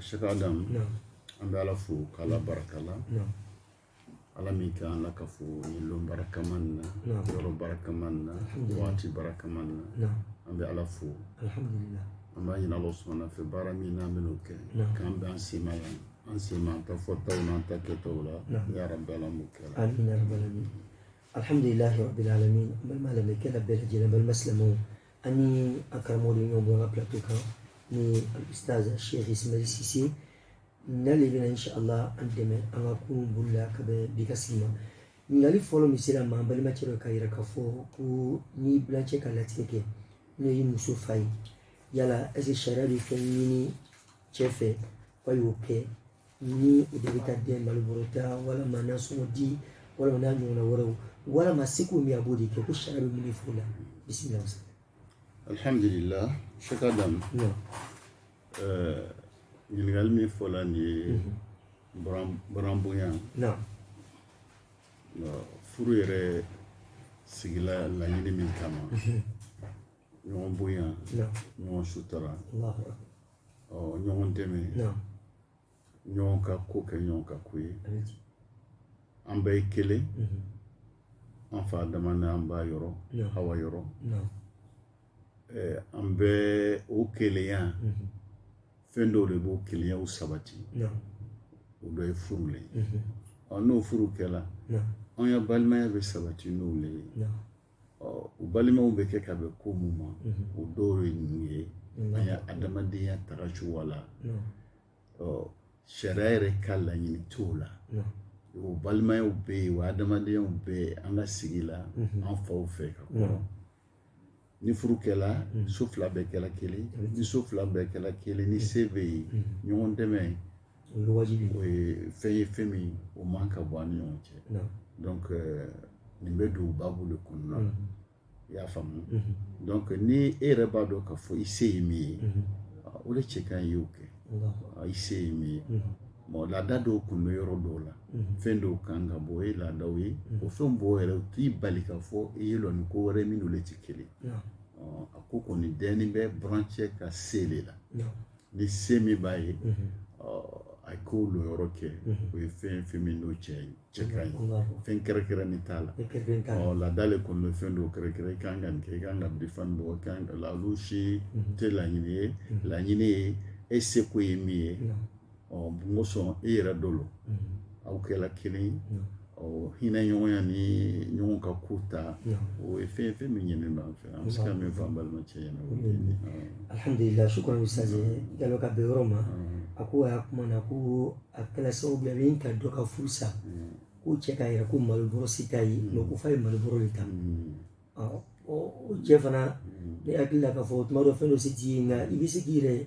Sheikh Adam an bɛ ala fo k'a baraka la ala min ka an lakafo don barakama na yɔrɔ barakama na waati barakama na an bɛ ala fo an b'a ɲini ala subhana fɛ baara min n'an bɛ kɛ k'an bɛ an sema yan an sema an ta fɔta an ta kɛtaw la ya rabbal alamin alhamdulillahi balima kɛ bɛɛ lajɛlen balima silamɛ ani a karamɔgɔ de ɲɔgɔn bɔ n ka plateau kan ni alustaz sheikh ismail sise n'ale bɛna inshallah an dɛmɛ an ka kurun boli la ka bɛn bi ka sigi ma ɲininkali fɔlɔ min sera an ma balimacɛ dɔ ka yira k'a fɔ ko ni bilancɛ ka latigɛ kɛ n'o ye muso fa ye yala est-ce que sariya bɛ fɛn ɲini cɛ fɛ k'a y'o kɛ ni o de bɛ taa de malo bɔrɔ ta walima nasɔngɔ di walima n'a ɲɔgɔnna wɛrɛw walama seko min a b'o de kɛ ko sariya bɛ mun de fɔ o la bisimila sa alhamdulillah sheikh adam ɲininkali min fɔla nin ye buranbonya furu yɛrɛ sigila laɲini min kama ɲɔgɔn bonya ɲɔgɔn sutura ɔ ɲɔgɔn dɛmɛ ɲɔgɔn ka ko kɛ ɲɔgɔn ka ko ye an bɛɛ ye kelen mhm. an fa adama ni an ba yɔrɔ hawa yɔrɔ an bɛɛ o kelenya mhm. fɛn dɔw le b'o kelenya o sabati o dɔ ye furu le ye mhm. ɔ n'o furu kɛla an ya balimaya bɛ sabati n'o le ye o balimaw bɛ kɛ ka bɛn ko mun ma o dɔw ye ninnu ye an ya adamadenya tagacogo la sariya yɛrɛ ka laɲini t'o la o balimayaw bɛ yen o adamadenyaw bɛ yen an ka sigi la an faw fɛ ka kɔrɔ ni furu kɛla so fila bɛɛ kɛla kelen ni so fila bɛɛ kɛla kelen ni se bɛ yen ɲɔgɔn dɛmɛ o ye wajibi o ye fɛn ye fɛn min o man ka bɔ an ni ɲɔgɔn cɛ donc euh, nin bɛ don babu de kɔnɔna na i y'a faamu donc ni e yɛrɛ b'a dɔn k'a fɔ i se ye min ye o de cɛ ka ɲi y'o kɛ i se ye min ye bon laada dɔw kun bɛ yɔrɔ dɔw la mhm. fɛn dɔw kan ka bɔ o ye laadaw ye mhm. o fɛn bɔ yɛrɛ o t'i bali k'a fɔ i y'i lɔ ni ko wɛrɛ min n'olu tɛ kelen a ko kɔni dɛni bɛ burancɛ ka se le la ni se min b'a ye a k'o lɔyɔrɔ kɛ o ye fɛn fɛn min n'o cɛ ka ɲi fɛn kɛrɛkɛrɛnni t'a la laada le kɔni bɛ fɛn dɔw kɛrɛkɛrɛn i kan ka nin kɛ i kan ka bifan bɔ i kan ka olu si tɛ laɲini ye laɲini ye e seko ye min ye mun kosɔn e yɛrɛ dɔ lo aw kɛla kelen ye Ɔ hinɛ ɲɔgɔnya ni ɲɔgɔn ka ko ta o ye fɛn fɛn min ɲininen b'an fɛ an bɛ se ka min fɔ an balimacɛ ɲɛna alhamdulila shukran ustaz Jalo ka bɛn yɔrɔ ma a ko a y'a kuma na ko a kɛla sababu ye min ka dɔ ka furu sa ko cɛ k'a yɛrɛ ko malobɔrɔ se t'a ye mais ko f'a ye malobɔrɔ de ta o cɛ fana ne hakili la k'a fɔ o tuma dɔ fɛn dɔ se t'i ye nka i bɛ se k'i yɛrɛ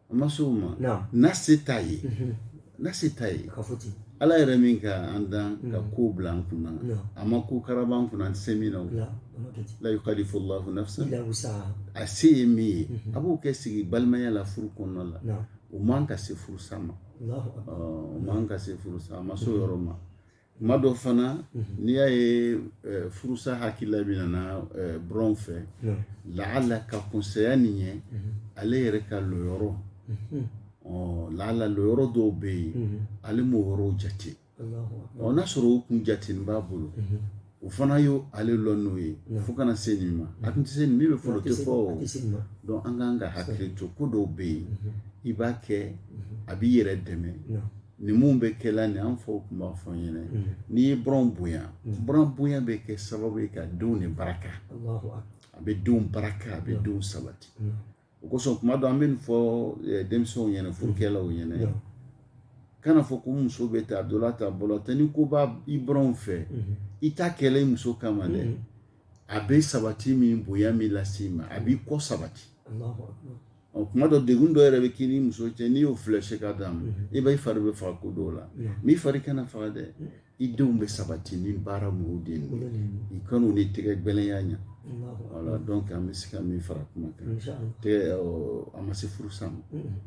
a ma se o ma n'a se t'a ye n'a se t'a ye ala yɛrɛ min ka an dan ka mm. ko bila an kunna a ma ko karaba an kunna an tɛ se min na la yukallifu Allahu nafsan a se ye min ye mm-hmm. a b'o kɛ sigi balimaya la furu kɔnɔna la o man ka se furusa ma o man ka se furusa a ma s'o mm-hmm. yɔrɔ ma kuma dɔ fana n'i y'a ye furusa hakilila min nana buranw fɛ laala ka kunsaya nin ye ale yɛrɛ ka lɔyɔrɔ laala lɔyɔrɔ dɔw bɛ yen ale m'o yɔrɔw jate ɔ n'a sɔrɔ o kun jatenin b'a bolo o fana ye ale lɔ n'o ye fo kana se nin ma a tun tɛ se nin min bɛ fɔlɔ tɛ fɔ donc an kan ka hakili to ko dɔw bɛ yen i b'a kɛ a b'i yɛrɛ dɛmɛ nin minnu bɛ kɛ la nin an faw tun b'a fɔ an ɲɛna n'i ye buranw bonya buran bonya bɛ kɛ sababu ye ka denw de baraka a bɛ denw baraka a bɛ denw sabati o kosɔn kuma dɔ an bɛ nin fɔ denmisɛnw ɲɛna furukɛlaw ɲɛna kana fɔ ko muso bɛ taa dɔ la ta bolo tɛ ni ko b'a i buranw fɛ i t'a kɛ la i muso kama dɛ a bɛ sabati min bonya min lase ma a b'i kɔ sabati ɔ kuma dɔ degun dɔ yɛrɛ bɛ k'i ni muso cɛ n'i y'o filɛ se ka d'a ma i bɛ i fari bɛ faga ko dɔw la n'i fari kana faga dɛ i denw bɛ sabati ni baara mugu de ye i kan'u ni tɛgɛ gbɛlɛnya ɲa voilà donc an bɛ se ka min fara kuma kan tɛgɛ a ma se furusa ma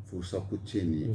furusa ko tiɲɛ nin ye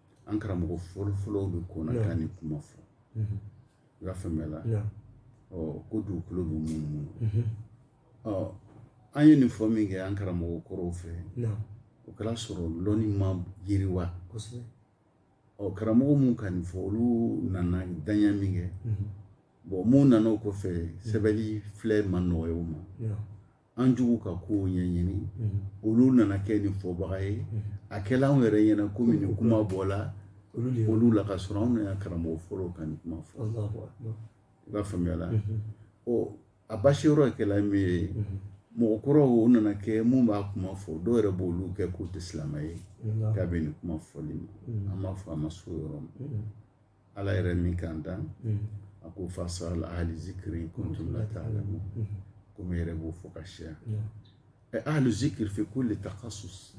an karamɔgɔ fɔlɔfɔlɔw de kɔnna ka nin kuma fɔ i b'a faamuya la ɔ ko dugukolo bɛ munumunu ɔ an ye nin fɔ min kɛ an karamɔgɔ kɔrɔw fɛ o kɛra sɔrɔ lɔnni ma yiriwa ɔ karamɔgɔ minnu ka nin fɔ olu nana danya min kɛ bon minnu nana o kɔfɛ sɛbɛnni filɛ ma nɔgɔya o ma an juguw ka ko ɲɛɲini olu nana kɛ nin fɔbaga ye a kɛla anw yɛrɛ ɲɛna komi nin kuma bɔla olu la ka sɔrɔ anw yɛrɛ karamɔgɔ fɔlɔw ka nin kuma fɔ i b'a faamuya la ɔ a basi yɔrɔ kɛla min ye mɔgɔ kɔrɔw o nana kɛ mun b'a kuma fɔ dɔw yɛrɛ b'olu kɛ k'u tɛ silamɛ ye ka bɛn nin kuma fɔli ma an b'a fɔ a ma s'o yɔrɔ ma Ala yɛrɛ min k'an dan a ko fas'alu ahli zikri in kuntum la ta'lamun ne yɛrɛ b'o fɔ ka siya ahli zikri fi kulli takhasus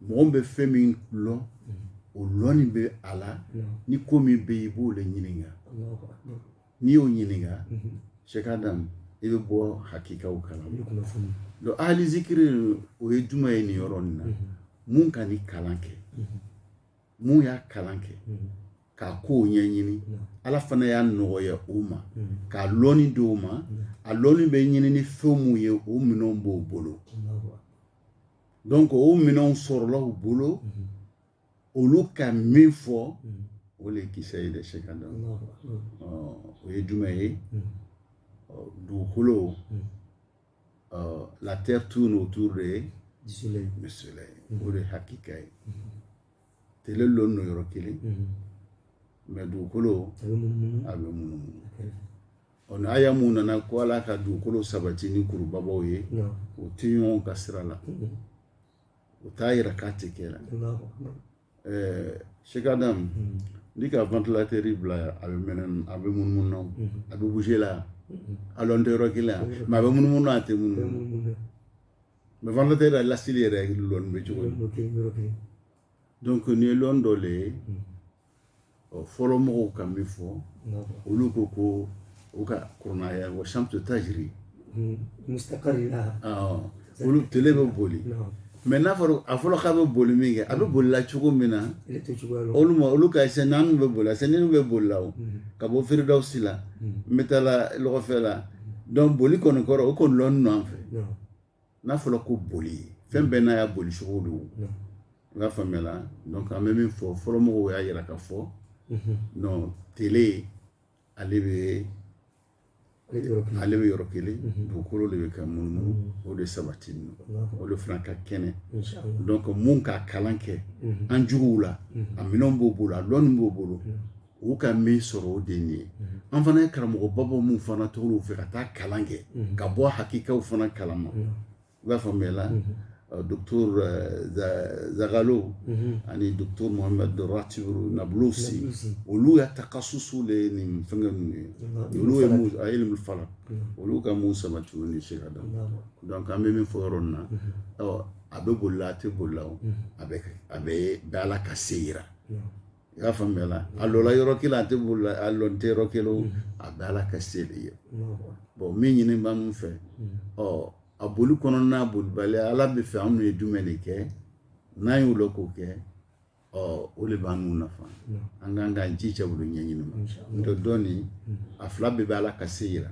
mɔgɔ bɛ fɛn min lɔn o lɔnni bɛ a la ni ko min bɛ yen i b'o de ɲininka n'i y'o ɲininka Sheikh Adam i bɛ bɔ hakikaw kalama donc ahli zikri o ye jumɛn ye nin yɔrɔ nin na mun ka nin kalan kɛ mun y'a kalan kɛ k'a kow ɲɛɲini ala fana y'a nɔgɔya o ma k'a lɔni di o ma a lɔni bɛ ɲini ni fɛn mun ye o minɛnw b'o bolo donc o minɛnw sɔrɔla u bolo olu ka min fɔ o de kisɛ ye dɛ Sheikh Adam o ye jumɛn ye dugukolo ɔ la terre tourne autour de du soleil du soleil mhm. o de hakika ye mhm. tele lɔn no yɔrɔ kelen mhm. mais dugukolo a bɛ munumunu a bɛ munumunu ɔ ni aya mun nana ko ala ka dugukolo sabati ni kurubabaw ye o tɛ ɲɔgɔn ka sira la o t'a yira k'a tɛ kɛ la ɛɛ Sheikh Adam mm-hmm. n'i ka ventilatɛri bila yan a bɛ mɛnɛ a bɛ munumunu na mm-hmm. a bɛ bouger la yan mm-hmm. a lɔn tɛ yɔrɔ kelen yan mais a bɛ munumunu na a tɛ munumunu mais ventilatɛri la lasili yɛrɛ lɔni bɛ cogo di donc nin ye lɔni dɔ le ye ɔ fɔlɔ mɔgɔw ka min fɔ olu ko ko u ka kurana aya wa shamsu tajri hmm, olu tele bɛ boli mais n'a fɔra a fɔlɔ k'a bɛ boli min kɛ a bɛ bolila cogo min na olu ma olu ka sɛ naani bɛ bolila sɛ naani bɛ bolila o hmm. ka bɔ Firidawusi la n hmm. bɛ taa la lɔgɔfɛ la donc boli kɔni kɔrɔ o kɔni lɔni nɔ an fɛ n'a fɔra ko boli fɛn bɛɛ n'a ya bolicogo don i b'a faamuya la donc an bɛ min fɔ fɔlɔmɔgɔw y'a yira k'a fɔ non tele ale bɛ ale bɛ yɔrɔ kelen dugukolo de bɛ ka munumunu o de sabati o de fana ka kɛnɛ donc mun ka kalan kɛ an juguw la a minɛnw b'o bolo a lɔnni b'o bolo u ka min sɔrɔ o de nin ye an fana ye karamɔgɔbabaw minnu fana tɔgɔ fɛ ka taa kalan kɛ ka bɔ hakikaw fana kalama i b'a faamuya la Docteur Zaghloul ani Docteur Mohamed Ratibu Nablusi olu ya takhasusu de ye nin fɛn ninnu a ilmu falak olu ka mun sabati o ni Sheikh Adam donc an bɛ min fɔ yɔrɔ na a bɛ boli a tɛ boli a bɛɛ bɛ Ala ka se yi i y'a faamuya la a lɔla yɔrɔ kelen a tɛ bolila a lɔn tɛ yɔrɔ kelen a bɛɛ ala ka se de ye bon min ɲini b'anw fɛ ɔ a boli kɔnɔna n'a bolibaliya ala bɛ fɛ anw ye jumɛn de kɛ n'an y'o lɔn k'o kɛ ɔ o de b'anw nafa an kan k'an jija olu ɲɛɲini ma n'o tɛ dɔɔnin a fila bɛɛ bɛ ala ka se yira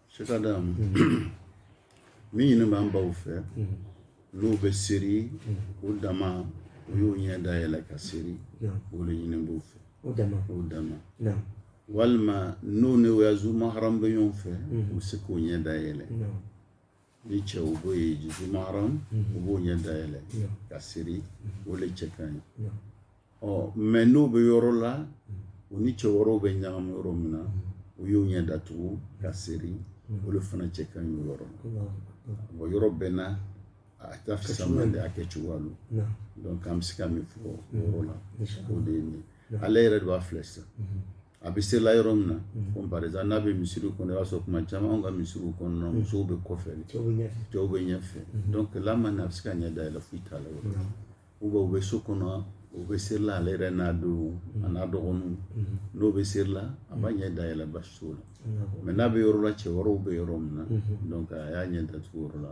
Sheikh Adam min ɲini b'an baw fɛ n'u bɛ seri u dama u y'u ɲɛ dayɛlɛ ka seri o de ɲini b'u fɛ u dama u dama walima n'u ni u ya zu maharam bɛ ɲɔgɔn fɛ u bɛ se k'u ɲɛ dayɛlɛ Ni cɛ u b'o ye zu maharam u b'u ɲɛ dayɛlɛ ka seri o de cɛ ka ɲi ɔ mais n'u bɛ yɔrɔ la u ni cɛ wɛrɛw bɛ ɲagami yɔrɔ min na u y'u ɲɛ datugu ka seri o de fana cɛ ka ɲi yɔrɔ la yɔrɔ bɛɛ n'a ta fisa de y'a kɛ cogoya donc an bɛ se ka min fɔ yɔrɔ la o de ye ale yɛrɛ de b'a filɛ sisan A bɛ serila yɔrɔ min na comme par exemple n'a bɛ misiri kɔnɔ i b'a sɔrɔ tuma caman anw ka misiriw kɔnɔ musow bɛ kɔfɛ cɛw bɛ ɲɛfɛ donc là maintenant a bɛ se k'a ɲɛ dayɛlɛ foyi t'a la ou bien u bɛ so kɔnɔ u bɛ serila ale yɛrɛ n'a denw a n'a dɔgɔnin n'u bɛ serila a b'a ɲɛ dayɛlɛ baasi t'o la mais n'a bɛ yɔrɔ la cɛ wɛrɛw bɛ yɔrɔ min na a y'a ɲɛ datugu yɔrɔ la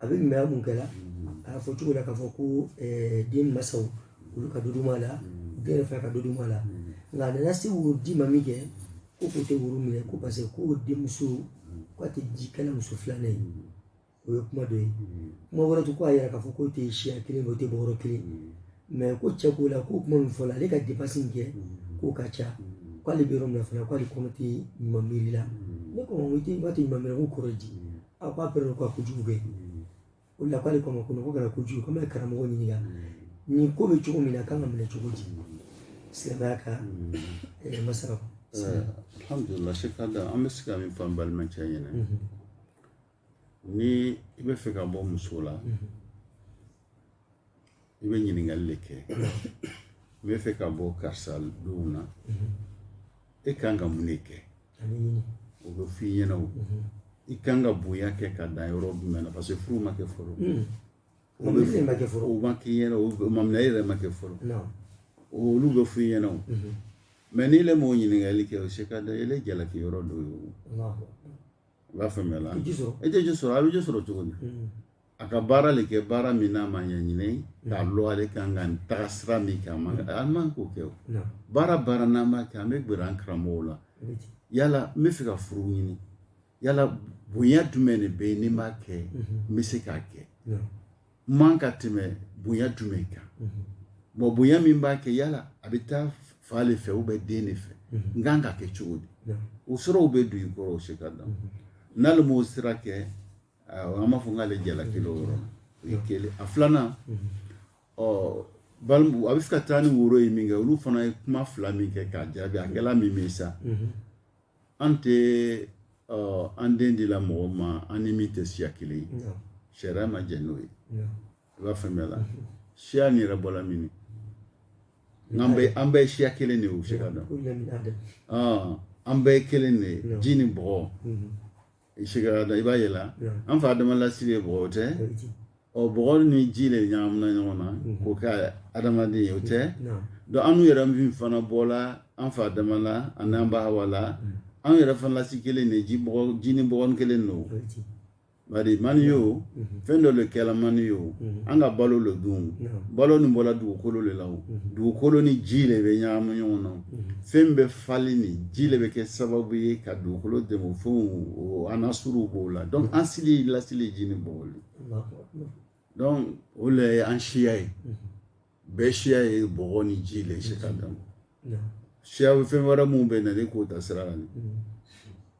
a bɛ ɲumanya min kɛla a y'a fɔ cogo la k'a fɔ ko den masaw olu ka dɔ dumu a la den yɛrɛ fana ka dɔ dumu a la nka a nana se woro di ma min kɛ ko k'o tɛ woro minɛ ko parce que ko denmuso k'a tɛ ji kɛla muso filanan ye o ye kuma dɔ ye kuma wɛrɛ tɛ ko a yɛrɛ k'a fɔ k'o tɛ siya kelen o tɛ bɔyɔrɔ kelen mais ko cɛ ko la ko kuma min fɔla ale ka dépense min kɛ k'o ka ca k'ale bɛ yɔrɔ min na fana k'ale kɔnɔ tɛ ɲuman miiri la ne ko i tɛ i b'a tɛ ɲuman miiri k'o kɔrɔ di a ko a pɛrɛn ko a kojugu kɛ o la k'ale kɔnɔ ko ko kana kojugu k'an bɛ karamɔgɔ ɲininka nin ko bɛ cogo min na kan ka minɛ cogo di silamɛya ka masala alhamdulilah Sheikh Adam an bɛ se ka min fɔ an balimacɛ ɲɛna ni i bɛ fɛ ka bɔ muso la i bɛ ɲininkali de kɛ i bɛ fɛ ka bɔ karisa denw na e kan ka mun de kɛ o bɛ f'i ɲɛna o i kan ka bonya kɛ ka dan yɔrɔ jumɛn na parce que furu ma kɛ fɔlɔ o bɛ fɛn ma kɛ fɔlɔ o ma k'i ɲɛna o maminɛ yɛrɛ ma kɛ fɔlɔ olu bɛ f'i ɲɛna o mais n'i le m'o ɲininkali kɛ o Sheikh Adam ele jalaki yɔrɔ dɔ ye o i b'a faamuya la i tɛ ji sɔrɔ a bɛ ji sɔrɔ cogo di a ka baara de kɛ baara min n'a ma ɲɛɲini k'a lɔn ale kan ka nin taga sira min kɛ a man a man k'o kɛ o baara baara n'an b'a kɛ an bɛ gɛrɛ an karamɔgɔw la yala n bɛ fɛ ka furu ɲini yala bonya jumɛn de bɛ yen ni n b'a kɛ n bɛ se k'a kɛ n man ka tɛmɛ bonya jumɛn kan bon bonya min b'a kɛ yala a bɛ taa fa de fɛ ou bien den de fɛ n kan ka kɛ cogo di o siraw bɛ don i kɔrɔ o Sheikh Adam n'ale m'o sira kɛ an b'a fɔ k'ale jalakilen o yɔrɔ o ye kelen a filanan ɔ balimu a bɛ fɛ ka taa ni woro ye min kɛ olu fana ye kuma fila min kɛ k'a jaabi a kɛla min ye sa an tɛ an den dila mɔgɔ ma an ni min tɛ siya kelen ye sariya ma jɛ n'o ye i b'a faamuya la siya nin yɛrɛ bɔla min n'an bɛ an bɛɛ siya kelen de ye o Sheikh Adam an bɛɛ ye kelen de ye ji ni bɔgɔ Sheikh Adam i b'a ye la an fa adama lasili ye bɔgɔ o tɛ bɔgɔ ni ji de ɲagamina ɲɔgɔn na k'o kɛ adamaden ye o tɛ donc an yɛrɛ min fana bɔla an fa adama la ani an ba hawa la an yɛrɛ fana lasili kelen de ji ni bɔgɔ kelen don bari maniyu fɛn dɔ de kɛla maniyu an ka balo dɔ dun balo nin bɔra dugukolo de la dugukolo ni ji de bɛ ɲagami ɲɔgɔn na fɛn bɛ falen ni ji de bɛ kɛ sababu ye ka dugukolo dɛmɛ fɛnw anasiru b'o la donc an sili lasili ji ni bɔgɔ de donc o de ye an siya ye bɛɛ siya ye bɔgɔ ni ji de Sheikh Adam siya fɛn wɛrɛ minnu bɛ na ne k'o ta sira la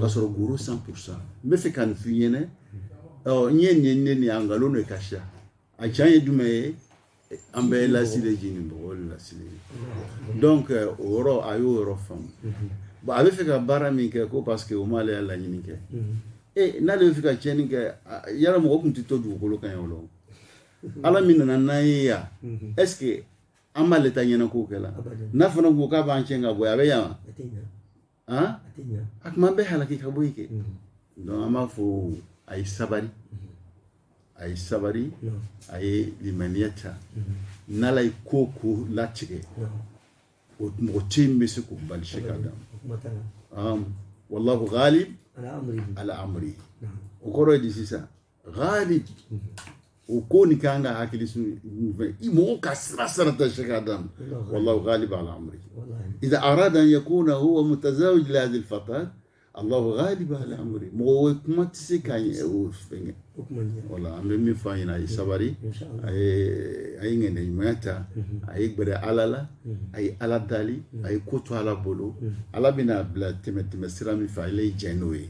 ka sɔrɔ goro cent pour cent n bɛ fɛ ka nin f'i ɲɛna n ye nin ne nin a nkalon de ka siya a can ye jumɛn ye an bɛɛ lasili ji ni bɔgɔ de lasili donc o yɔrɔ a y'o yɔrɔ faamu bon a bɛ fɛ ka baara min kɛ ko parce que o m'ale ya laɲini kɛ e n'ale bɛ fɛ ka tiɲɛni kɛ yala mɔgɔ tun tɛ to dugukolo kan yan o la ala min nana n'an ye yan est ce que an b'ale ta ɲɛna k'o kɛla n'a fana ko k'a b'an cɛn ka bɔ a bɛ yan wa a kuma bɛɛ halaki ka bɔ yen kɛ donc an b'a fɔ a ye sabari a ye sabari a ye limaniya ta n'ala ye ko ko latigɛ o mɔgɔ tɛ yen bɛ se k'o bali Sheikh Adam wallahu ghalib ala amri o kɔrɔ ye di sisan ghalib o ko ni kan ka hakili sun fɛ i mɔgɔ ka sira sarata Sheikh Adam wallahu ghalib ala amri idza arada an yakuna huwa mutazawij li hadhihi alfatat allahu ghalib ala amri mɔgɔ wɛ kuma tɛ se ka ɲɛ o fɛngɛ wala an bɛ min fɔ a ɲɛna a ye sabari a ye a ye ŋɛnɛ ɲumanya ta a ye gbɛrɛ ala la a ye ala dali a ye ko to ala bolo ala bɛna bila tɛmɛ tɛmɛ sira min fɛ ale ye jɛn n'o ye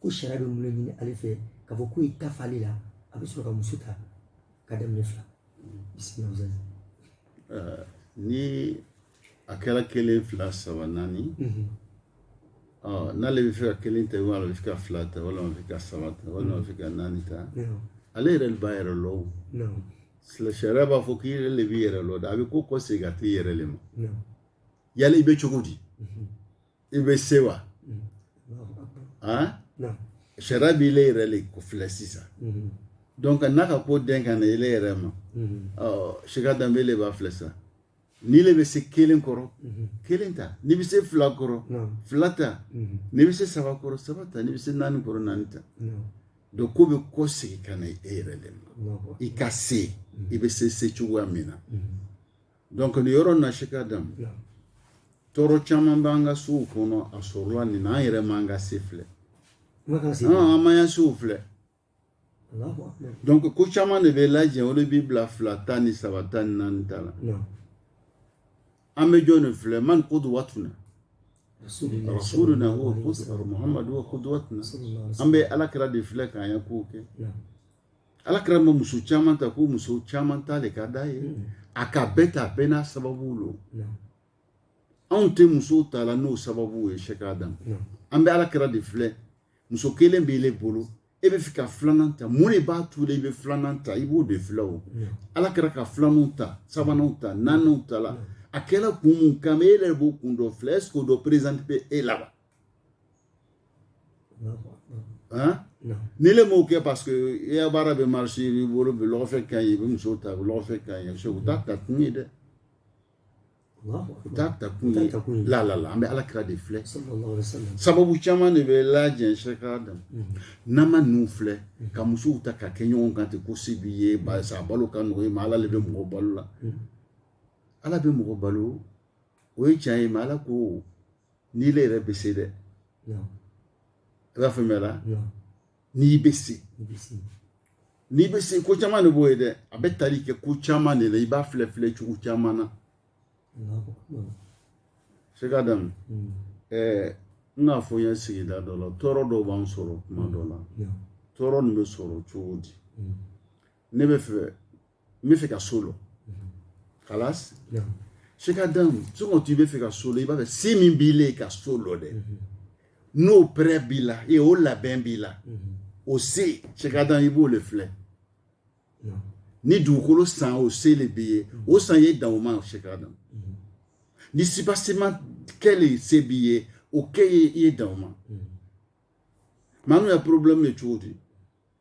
ko sariya bɛ mun ɲini ale fɛ k'a fɔ k'u ye ta f'ale la a bɛ sɔrɔ ka muso ta ka daminɛ fila bisimila ni a kɛra kelen fila saba naani n'ale bɛ fɛ ka kelen ta walima a bɛ fɛ ka fila ta walima a bɛ fɛ ka saba ta walima a bɛ fɛ ka naani ta ale yɛrɛ le b'a yɛrɛ lɔ o sariya b'a fɔ k'i yɛrɛ le b'i yɛrɛ lɔ dɛ a bɛ ko kɔ segin ka t'i yɛrɛ le ma yala i bɛ cogo di i bɛ se wa sariya b'i le yɛrɛ le ko filɛ sisan donc n'a ka ko den ka na ele yɛrɛ ma sika danbe le b'a filɛ sisan n'i le bɛ se kelen kɔrɔ kelen ta n'i bɛ se fila kɔrɔ fila ta n'i bɛ se saba kɔrɔ saba ta n'i bɛ se naani kɔrɔ naani ta donc ko bɛ kɔ segin ka na e yɛrɛ le ma i ka se i bɛ se se cogoya min na Dɔnku nin yɔrɔ in na sika danbe tɔɔrɔ caman b'an ka sow kɔnɔ a sɔrɔla nin na an yɛrɛ ma an ka se filɛ an m'an ya sew filɛ dɔnku ko caman de bɛ lajɛ o b'i bila fila tan ni saba tan ni naani ta la an bɛ jɔn de filɛ man qudwatuna rasuluna huwa Muhammadu huwa qudwatuna an bɛ ala kira de filɛ k'an ya kow kɛ Ala kira ma muso caman ta ko muso caman ta de ka di a ye mm. a ka bɛɛ ta bɛɛ n'a sababu don anw tɛ muso ta la n'o sababu ye sika danbe an bɛ ala kira de filɛ muso kelen b'i le bolo e bɛ fɛ ka filanan ta mun de b'a to i bɛ filanan ta i b'o de filɛ o ala kira ka filananw ta sabananw ta naaniw ta la a kɛra kun mun kan e yɛrɛ b'o kun dɔ filɛ ɛseke o dɔ perezanti bɛ e la wa Hein? Non. Ni le m'o kɛ parce que i ya baara bɛ marche i b'i bolo bi lɔgɔfɛ ka ɲi i bɛ muso ta bi lɔgɔfɛ ka ɲi o t'a ta kun ye dɛ o t'a ta kun ye la la la an bɛ ala kira de filɛ sababu caman de bɛ lajɛ sika danbe n'an ma ninnu filɛ ka musow ta ka kɛ ɲɔgɔn kan ten ko se b'i ye barisa a balo ka nɔgɔ i ma ala de bɛ mɔgɔ balo la ala bɛ mɔgɔ balo o ye tiɲɛ ye mais ala ko n'i le yɛrɛ bɛ se dɛ i b'a faamuya la n'i bɛ se n'i bɛ se ko caman de b'o ye dɛ a bɛ tali kɛ ko caman de la i b'a filɛ filɛ cogo caman na sika danbe mm. ɛɛ n k'a fɔ an ya sigida dɔ la tɔɔrɔ dɔw b'an sɔrɔ kuma dɔ la tɔɔrɔ nin bɛ sɔrɔ cogo di mm. ne bɛ fɛ n bɛ fɛ ka so lɔ kalas sɛki adamu sokɔ i bɛ fɛ ka so lɔ i b'a fɛ se min b'i la ka so lɔ dɛ n'o pɛrɛ b'i la o labɛn b'i la o se sɛki adamu i b'o de filɛ ni dugukolo san o se de b'i ye o san ye dan o ma sɛki adamu ni subasiman kelen se b'i ye o kɛ i ye dan o ma mɛ anw ya porobilɛmu ye cogo di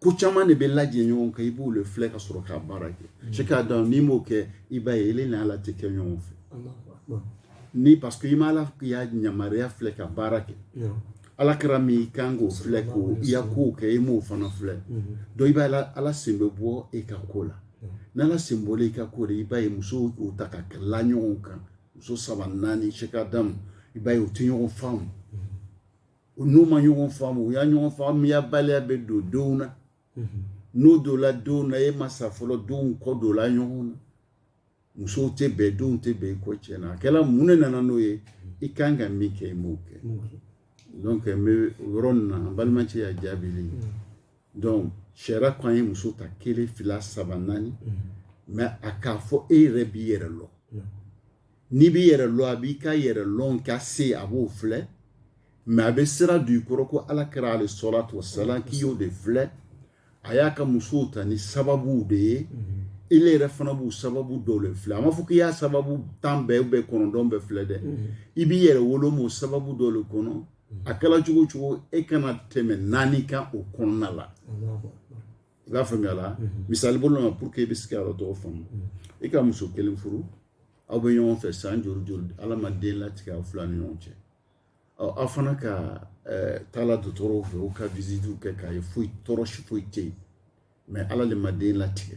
ko caman de bɛ lajɛ ɲɔgɔn kan i b'o de filɛ ka sɔrɔ k'a baara kɛ mm. sɛki adamu n'i m'o kɛ i b'a ye ele ni ala tɛ kɛ ɲɔgɔn fɛ ni parce que i ma ala ya yamaruya filɛ ka baara kɛ ala kira min i kan k'o filɛ k'o i ya kow kɛ i m'o fana filɛ mm-hmm. donc i b'a ye ala sen bɛ bɔ i ka ko la n'ala sen bɔla i ka ko la i b'a ye musow k'o ta ka la ɲɔgɔn kan muso saba naani sɛki adamu i b'a ye u tɛ ɲɔgɔn faamu u n'u ma ɲɔgɔn faamu u ya ɲɔgɔn faamuyabaliya bɛ don denw na n'o donla denw na e ma sa fɔlɔ denw kɔ donla ɲɔgɔn na musow tɛ bɛn denw tɛ bɛn i kɔ cɛnna a kɛra mun ne nana n'o ye i ka kan ka min kɛ i m'o kɛ donc n bɛ yɔrɔ nin na an balimacɛ ya jaabili donc sariya ko an ye muso ta kelen fila saba naani mɛ a k'a fɔ e yɛrɛ b'i yɛrɛ lɔ n'i b'i yɛrɛ lɔn a b'i ka yɛrɛ lɔn ka se a b'o filɛ mɛ a bɛ sira don i kɔrɔ ko ala kira alayhi salatu wasalamu k'i y'o de filɛ a y'a ka musow ta ni sababuw de ye e yɛrɛ fana b'o sababu dɔ de filɛ a ma fɔ k'i y'a sababu tan bɛɛ bɛɛ kɔnɔntɔn bɛɛ filɛ dɛ i b'i yɛrɛ woloma o sababu dɔ de kɔnɔ a kɛra cogo cogo e kana tɛmɛ naani kan o kɔnɔna la i b'a faamuya la misali bolo ma pour que i bɛ se ka yɔrɔ dɔ faamu i ka muso kelen furu aw bɛ ɲɔgɔn fɛ san joli joli ala ma den latigɛ aw fila ni ɲɔgɔn cɛ ɔ aw fana ka taa la dɔgɔtɔrɔw fɛ u ka visitiw kɛ k'a ye foyi tɔɔrɔ si foyi tɛ yen mɛ ala le ma den latigɛ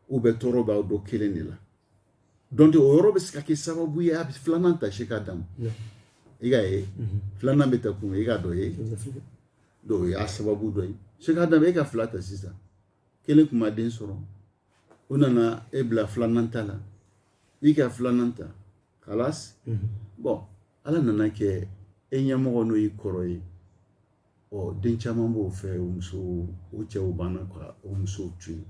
ou bien tɔɔrɔ b'aw dɔ kelen de la donc o yɔrɔ bɛ se ka kɛ sababu ye a bɛ filanan ta sɛki adamu i k'a ye filanan bɛ ta kun i k'a dɔ ye donc o y'a sababu dɔ ye sɛki adamu e ka fila ta sisan kelen tun ma den sɔrɔ o nana e bila filanan ta la i ka filanan ta kalas bɔn ala nan'a kɛ e ɲɛmɔgɔ n'o y'i kɔrɔ ye ɔ den caman b'o fɛ o muso o cɛ o banna ka o muso to yen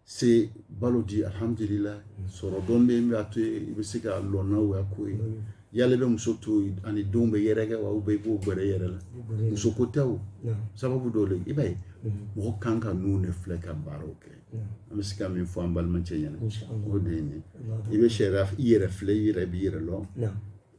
se balo di alihamdulila mm. sɔrɔ dɔ bɛ yen b'a to i bɛ se ka lɔnna wɛrɛ ko ye mm. yala e bɛ muso to ani denw bɛ yɛrɛkɛ wa u bɛ i b'o gɛrɛ yɛrɛ la muso ko tɛ o sababu dɔw de i b'a ye mm. mɔgɔ kan ka ninnu de filɛ ka baaraw kɛ an bɛ se ka min fɔ an balimacɛ ɲɛna o de ye nin i bɛ sariya i yɛrɛ filɛ i yɛrɛ b'i yɛrɛ lɔn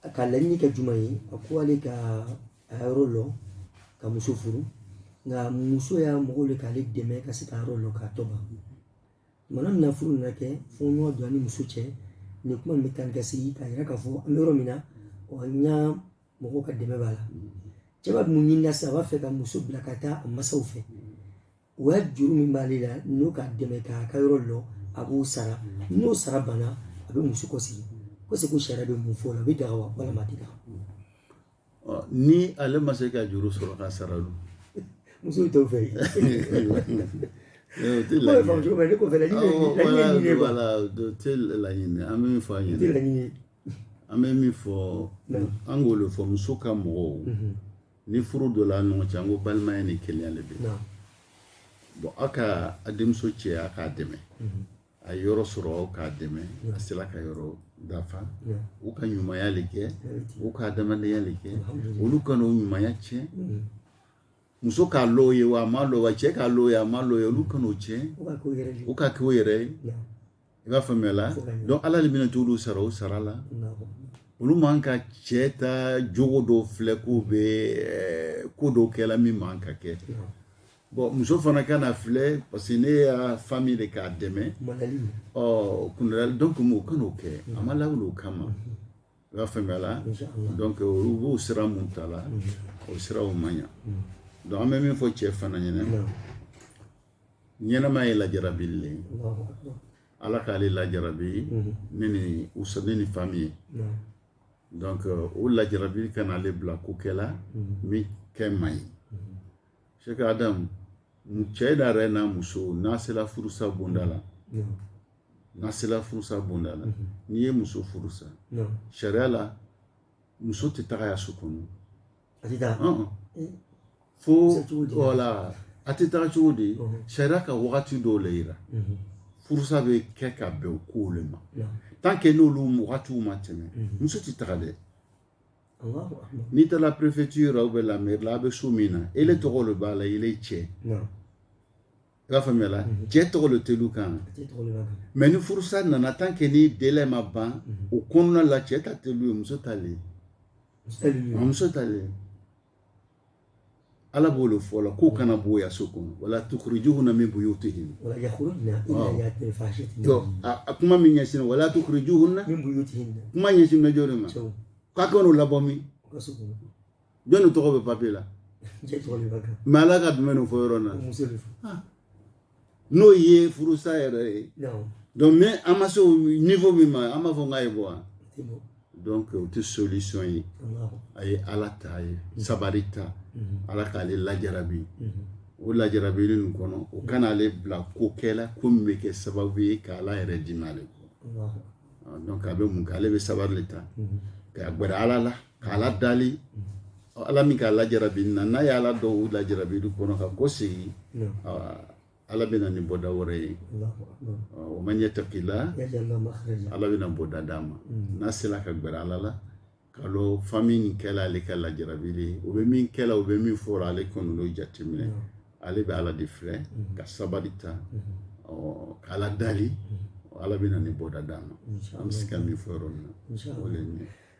a ka laɲini kɛ jumɛn ye a ko ale ka a yɔrɔ lɔ ka muso furu nka muso ya mɔgɔ le k'ale dɛmɛ ka se ka yɔrɔ lɔ k'a tɔ ban mana min na furu nana kɛ fo ɲɔgɔn don a ni muso cɛ nin kuma bɛ tan gasigi k'a yira k'a fɔ an bɛ yɔrɔ min na ɔ n ya mɔgɔw ka dɛmɛ b'a la cɛ bɛ mun ɲinina sisan a b'a fɛ ka muso bila ka taa a masaw fɛ o ya juru min b'ale la n'o k'a dɛmɛ k'a ka yɔrɔ lɔ a b'o sara n'o sara banna a bɛ muso kɔsegi ko seku sariya bɛ mun fɔ o la a bɛ daga wa walima a tɛ daga ni ale ma se ka juru sɔrɔ ka sara donc muso t'o fɛ yen tɛ laɲini ko fɛ laɲini ye wala tɛ laɲini an bɛ min fɔ an ɲɛna tɛ laɲini an bɛ min fɔ an k'o de fɔ muso ka mɔgɔw ni furu donna ɲɔgɔn cɛ an ko balimaya ni kelenya le bɛ bon aw ka a denmuso cɛ a k'a dɛmɛ mhm. a ye yɔrɔ sɔrɔ aw k'a dɛmɛ a sela ka yɔrɔ dafa u ka ɲumanya le kɛ u ka adamadenya le kɛ olu kana o ɲumanya tiɲɛ mhm. muso k'a lɔn ye wa a m'a lɔn wa cɛ k'a lɔn ye a m'a lɔn ye olu kana o tiɲɛ u k'a kɛ o yɛrɛ ye i b'a faamuya la donc ala le bɛna t'olu sara o sara la olu man ka cɛ ta jogo dɔw filɛ k'u bɛ eh, ko dɔw kɛ la min man kan ka kɛ bon muso fana kan'a filɛ parce que ne ya fami le k'a dɛmɛ ɔ kundali donc mɔgɔ kan'o kɛ a ma lawuli o kama i b'a faamuya la donc olu b'o sira min ta la o siraw man ɲa donc an bɛ min fɔ cɛ fana ɲɛna ɲɛnama ye lajarabili le ala k'ale lajarabi ni nin muso nin ni fami ye donc euh, o lajarabili kana ale bila ko kɛ la min kɛ man ɲi seki adam cɛ da yɛrɛ n'a muso n'a sela furusa bonda la n'a sela furusa bonda la n'i ye muso furusa sariya la muso tɛ taga ya so kɔnɔ a tɛ taa fo wala a tɛ taa cogo di sariya ka wagati dɔw le yira furusa bɛ kɛ ka bɛn o kow le ma tant que n'olu wagatiw ma tɛmɛ muso tɛ taga dɛ n'i taara préfecture ou bien la mairie la a bɛ so min na ele tɔgɔ le b'a la ele cɛ i b'a faamuya la mhm. cɛ tɔgɔ le tɛ lu kan mais ni furusa nana tant que ni délai ma ban mhm. o kɔnɔna la cɛ ta tɛ lu ye muso ta le muso ta le ala b'o le fɔ la k'o mhm. kana b'o ya so kɔnɔ wala tukhrijuhunna min buyutihin a kuma min ɲɛsin wala tukhrijuhunna kuma ɲɛsinna jɔn de ma k'a kana o labɔ min jɔn tɔgɔ bɛ papier la mais ala ka jumɛn de fɔ yɔrɔ na ah. n'o ye furusa yɛrɛ ye donc mais an ma se o niveau min ma an b'a fɔ k'a ye bɔ wa donc o tɛ solution ye a ye ala ta ye mhm. sabari ta mhm. ala k'ale lajarabi mhm. o lajarabili nin kɔnɔ o kana ale bila ko kɛla ko min bɛ kɛ sababu ye ka ala yɛrɛ dimi ale kɔ ah, donc a bɛ mun kɛ ale bɛ sabari de ta ka gbɛrɛ ala la k'ala dali ala min k'a lajarabi na n'a ye ala dɔn o lajarabili kɔnɔ ka kɔsegin ala bɛ na ni bɔda wɛrɛ ye wa man yattaqillah ala bɛna bɔda d'a ma mm. n'a sera ka gbɛrɛ ala la k'a lɔn famille nin kɛla ale ka lajarabili ye o bɛ min kɛla o bɛ min fɔra ale kɔni n'o jateminɛ ale bɛ ala de filɛ mm-hmm. ka sabali ta mm-hmm. k'ala dali mm-hmm. ala bɛna nin bɔda d'a ma an bɛ se ka min fɔ yɔrɔ min na o le ye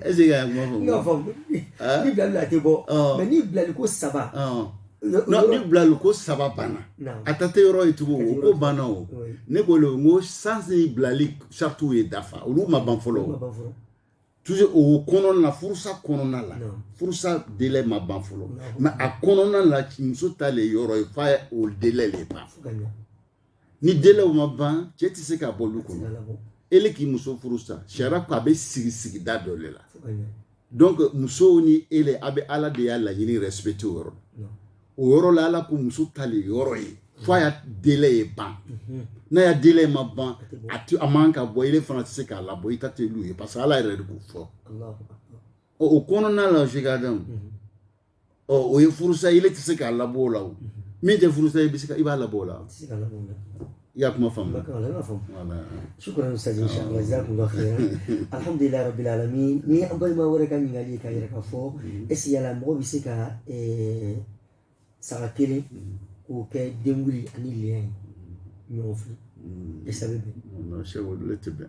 Est-ce que i ka kuma faamu n k'a faamu ni bilali a tɛ bɔ mais ni bilali ko saba ni bilali ko saba banna a ta tɛ yɔrɔ ye tugun o ko banna o ne ko le ko sani bilali saritiw ye dafa olu ma ban fɔlɔ toujours o kɔnɔna la furusa kɔnɔna la furusa délai ma ban fɔlɔ mais a kɔnɔna la muso ta le yɔrɔ ye f'a o délai le ban ni délai o ma ban cɛ tɛ se k'a bɔ lu kɔnɔ e le k'i muso furusa sariya ko a bɛ sigi sigida dɔ de la donc muso ni e le a bɛ ala de ya laɲini respecté o yɔrɔ la o yɔrɔ la ala ko muso ta le yɔrɔ ye fo a ya délai ye ban mhm. n'a ya délai ma ban a tɛ a man ka bɔ e le fana tɛ se k'a labɔ i ta tɛ lu ye parce que ala yɛrɛ de k'o fɔ o kɔnɔna la sheikh adamu ɔ o ye furusa ye e le tɛ se k'a labɔ o la o min tɛ furusa i bɛ se ka i b'a labɔ o la i y'a kuma faamu shukran ustaz inshallah jazakumullahu khairan alhamdulillah rabbil alamin ni an balima wɛrɛ ka ɲininkali ye k'a yira k'a fɔ est-ce que yala mɔgɔ bɛ se ka saga kelen k'o kɛ denwuli ani layiya ye ɲɔgɔn fɛ est-ce que a bɛ bɛn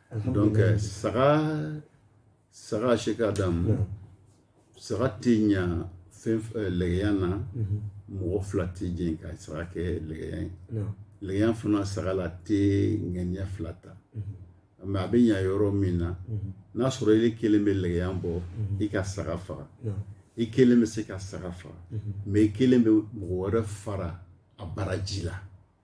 donc euh, saga sheikh adamu saga tɛ ɲa fɛn euh, lɛgɛya na mhm. mɔgɔ fila tɛ jɛn ka saga kɛ lɛgɛya ye lɛgɛya fana saga la tɛ ŋaniya fila ta mais mhm. a bɛ ɲa yɔrɔ min na mhm. n'a sɔrɔ e le kelen bɛ lɛgɛya bɔ i ka saga faga i kelen bɛ se ka saga faga mais i kelen bɛ mɔgɔ wɛrɛ fara a baraji la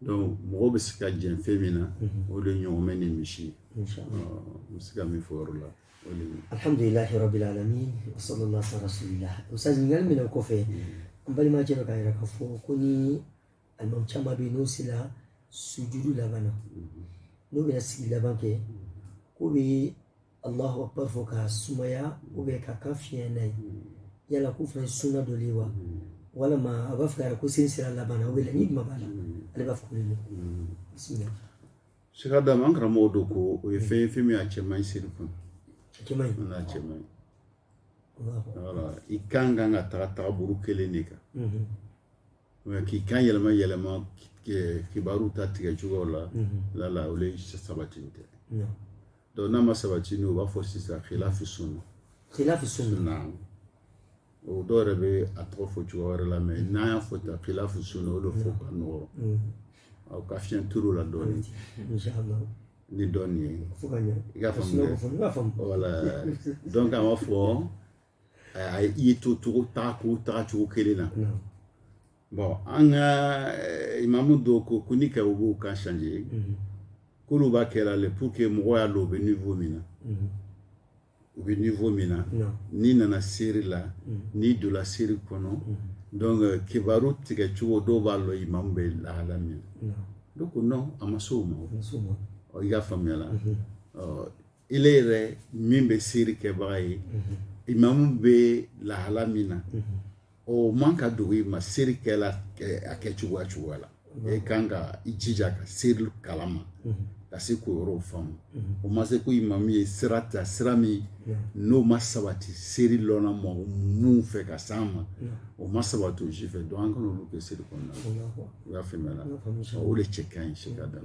Donc mɔgɔ bɛ se ka jɛn fɛn min na o de ɲɔgɔmɛ ni misi ye n bɛ se ka min fɔ o yɔrɔ la alhamdulillah rabbil alamin wa sallallahu ala rasulillah ustaz ɲininkali min o kɔfɛ an balimacɛ dɔ k'a yira k'a fɔ ko ni alimami caman bɛ yen n'o sera sujudu laban na n'o bɛ sigi laban kɛ ko bɛ Allahu akbar fɔ ka sumaya ou bien k'a kan fiɲɛ n'a ye yala k'o fana ye sunna dɔ de ye wa walima a b'a fɛ k'a yira ko seli sera laban na o bɛ la ni jumɛn b'a la ale b'a fɔ ko ne bisimila Sheikh Adam an karamɔgɔ dɔ ko o ye fɛn ye fɛn min a cɛ man ɲi seli kɔnɔ jama in n'a cɛ man ɲi Allahu akbar. voilà i kan kan ka taga tagabolo kelen de kan Mhm, Mais k'i kan yɛlɛma yɛlɛma ki- ki- kibaruw ta tigɛ cogoyaw la mhm, lala o le sabati tɛ non. Donc n'a ma sabati u b'a fɔ sisan khilafu sunna dɔw yɛrɛ bɛ a tɔgɔ fɔ cogo wɛrɛ la mais n'an y'a fɔ tan khilafu sunna o de fɔ ka nɔgɔ a ka fiɲɛ tulo la dɔɔnin ni dɔɔnin ye i ka voilà donc fɔ a i ye to cogo taga taga cogo kelen na bon an ka eh, imamu dɔw ko ko ni ka u b'u kan changer mhm. k'olu b'a kɛra le pour que mɔgɔ y'a dɔn u bɛ niveau min na mhm. u bɛ niveau min na n'i nana seri la mhm. n'i donna seri kɔnɔ donc euh, kibaru tigɛ cogo dɔw b'a lɔ imamu bɛ lahala min na donc non a ma s'o ma i y'a faamuyala Ele yɛrɛ min bɛ seri kɛbaga ye imamu bɛ lahala min na o man ka dogo i ma seri kɛla a kɛ cogoya cogoya la e ka kan ka i jija ka seri kalan ma ka se k'o yɔrɔ faamu o ma se ko imamu ye sira ta sira min n'o ma sabati seri dɔnna maa minnu fɛ ka s'an ma o ma sabati o si fɛ donc an kana olu kɛ seri kɔnɔna i y'a faamuya o de cɛ ka ɲi Sheikh Adam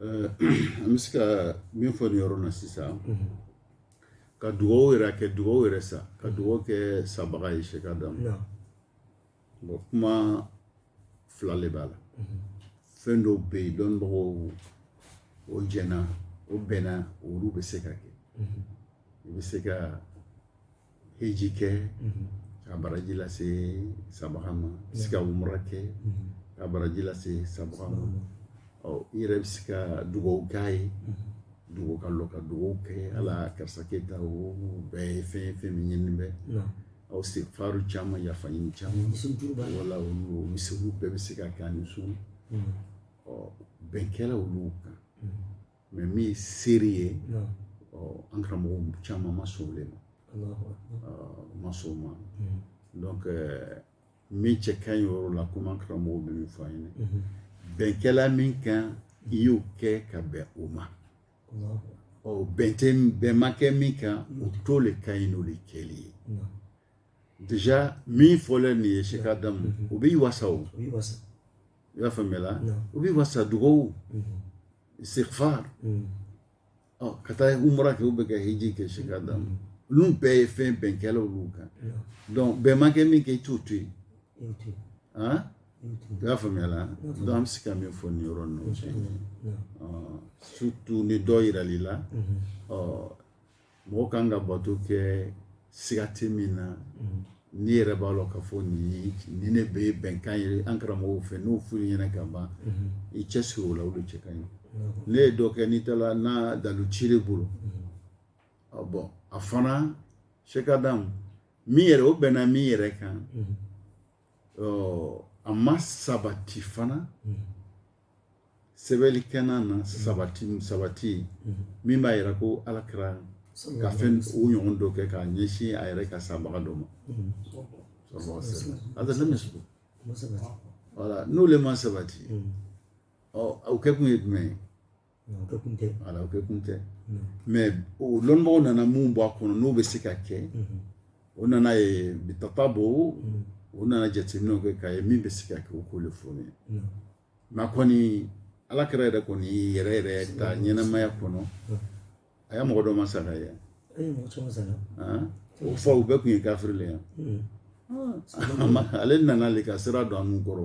Euh, an bɛ se ka min fɔ nin yɔrɔ na sisan ka dugawu yɛrɛ kɛ dugawu yɛrɛ se ka dugawu kɛ sabaga ye Sheikh Adam bon kuma fila de b'a la fɛn dɔw bɛ yen dɔnnibagaw o jɛnna o bɛnna olu bɛ se ka kɛ i bɛ se ka heji kɛ ka baraji lase sabaga ma se ka umra kɛ ka baraji lase sabaga ma ɔ i yɛrɛ bɛ se ka dugawu k'a ye dugawu ka lɔ ka dugawu kɛ ala karisa kɛ tan o bɛɛ ye fɛn fɛn min ɲini bɛ aw istighfaru caman yafa ɲini caman voilà olu misiriw bɛɛ bɛ se ka kɛ ni sun ɔ bɛn kɛla olu kan mais min ye seri ye an karamɔgɔ caman ma sɔn olu ma ma sɔn o ma donc min cɛ ka ɲi yɔrɔ la komi an karamɔgɔw bɛ min fɔ an ɲɛ na bɛn kɛla min kan i y'o kɛ ka bɛn o ma ɔ bɛn tɛ bɛn ma kɛ min kan o to le ka ɲi n'o de kɛli ye déjà min fɔlen nin ye Sheikh Adam o b'i wasa o i y'a faamuyala o b'i wasa dugawu istighfar ɔ ka taa umra kɛ u bɛ ka hiji kɛ Sheikh Adam olu bɛɛ ye fɛn bɛn kɛla olu kan donc bɛn ma kɛ min kan i t'o to yen han i y'a faamuya la donc an bɛ se ka min fɔ nin yɔrɔ ninnu cɛ surtout ni dɔ yirali la ɔ Mɔgɔ ka kan ka bato kɛ siga tɛ min na n'i yɛrɛ b'a lɔn k'a fɔ nin ni ne bɛ ye bɛnkan ye an karamɔgɔw fɛ n'o f'u ɲɛna ka ban i cɛsiri o la o cɛ ka ɲi ne ye dɔ kɛ n'i taara n'a dalu t'i yɛrɛ bolo bon a fana Sheikh Adam min yɛrɛ o bɛnna min yɛrɛ kan a ma sabati fana sɛbɛnli kɛ na sabati sabati min b'a yira ko ala kira ka fɛn o ɲɔgɔn dɔ kɛ k'a ɲɛsin a yɛrɛ ka sabaga dɔ ma n'o de ma sabati ɔ o kɛ kun ye jumɛn ye voilà o kɛ kun tɛ mais o lɔnbagaw nana min bɔ a kɔnɔ n'o bɛ se ka kɛ o nana ye bi tatabu o nana jateminɛ kɛ k'a ye min bɛ se ka kɛ o k'o de fɔ ye nka kɔni ala kira yɛrɛ kɔni yɛrɛ yɛrɛ ta ɲɛnamaya kɔnɔ a ye mɔgɔ dɔ ma sa ye o faw bɛɛ tun ye kafiri yan ale nana de ka sira don an kɔrɔ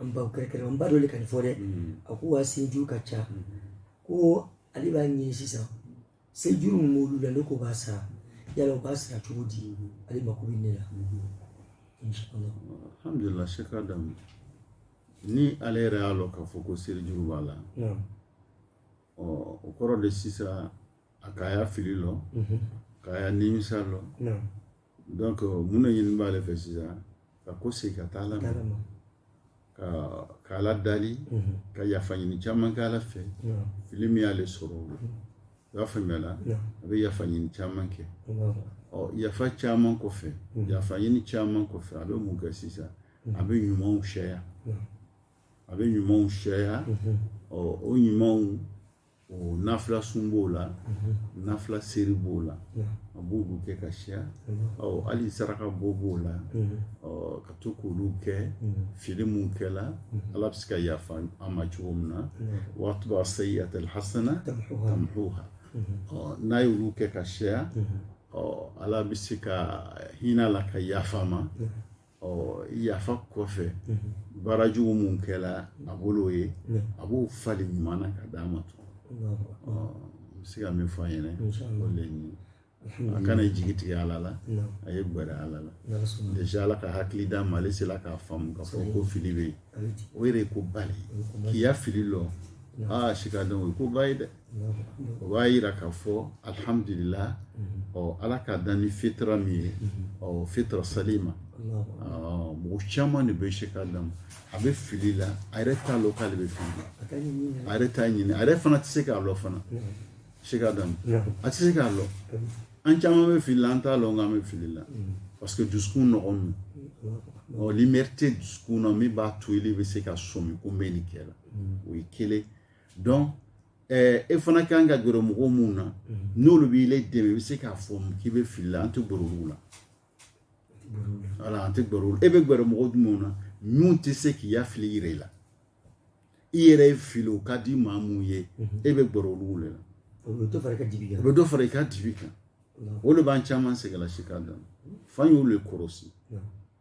an baw kɛrɛkɛrɛ an ba dɔ de ka nin fɔ dɛ a ko wa serijuru ka ca ko ale b'a ɲini sisan serijuru min b'olu la ne ko b'a sara yala u b'a sara cogo di ale mako bɛ ne la alhamdulilah Sheikh Adam ni ale yɛrɛ y'a lɔn k'a fɔ ko serijuru b'a la ɔ o kɔrɔ de sisan a k'a ya fili lɔn k'a ya nimisa lɔn Donc mun de ɲini b'ale fɛ sisan ka kɔsegin ka taa ala ma ka ala dali ka yafa ɲini caman kɛ ala fɛ fili min y'ale sɔrɔ o i y'a faamuya a bɛ yafa ɲini caman kɛ ɔ yafa caman kɔ fɛ yafa ɲini caman kɔ fɛ a bɛ mun kɛ sisan a bɛ ɲumanw siyaya a bɛ ɲumanw siyaya ɔ o ɲumanw o nafila sun b'o la mhm. nafila seri b'o la a b'olu kɛ ka siya mhm. ɔ hali saraka bɔ b'o la mhm. ɔ ka to k'olu kɛ fili min kɛla ala bɛ se ka yafa an ma cogo min na wa atbi'i sayyi'ata alhasana tamhuha ɔ n'a y'olu kɛ ka siya ɔ ala bɛ se ka hinɛ a la ka yafa a ma ɔ yafa kɔfɛ baara jugu mun kɛla a bolo ye a b'o falen ɲuman na ka d'a ma tuguni ɔ n bɛ se ka min fɔ an ɲɛna o de ye a kana jigi tigɛ ala la a ye gwɛrɛ ala la déjà ala ka hakili d'a ma ale sela k'a faamu k'a fɔ ko fili bɛ yen o yɛrɛ ye ko ba de ye k'i ya fili lɔn aa Sheikh Adam o ye ko ba ye dɛ o b'a yira k'a fɔ alihamdulila ɔ ala k'a dan ni fitira min ye ɔ fitira salima mɔgɔ caman de bɛ Sheikh Adam a bɛ fili la a yɛrɛ t'a lɔn k'ale bɛ fili a yɛrɛ t'a ɲini a yɛrɛ fana tɛ se k'a lɔn fana Sheikh Adam a tɛ se k'a lɔn an caman bɛ fili la an t'a lɔn k'an bɛ fili la parce que dusukun nɔgɔnin don ɔ lumière tɛ dusukun na min b'a to ile bɛ se ka sɔmi ko n bɛ nin kɛ la o ye kelen donc e fana kan ka gɛrɛ mɔgɔw minnu na n'olu b'i le dɛmɛ i bɛ se k'a fɔ k'i bɛ fili la an tɛ gɛrɛ olu la voilà an tɛ gɛrɛ olu e bɛ gɛrɛ mɔgɔw jumɛnw na min tɛ se k'i ya fili yira i la i yɛrɛ ye fili o ka di maa mun ye e bɛ gɛrɛ olu de la o bɛ dɔ fara i ka dibi kan o bɛ dɔ fara i ka dibi kan o le b'an caman sɛgɛn la Sheikh Adam f'an y'olu le kɔrɔsi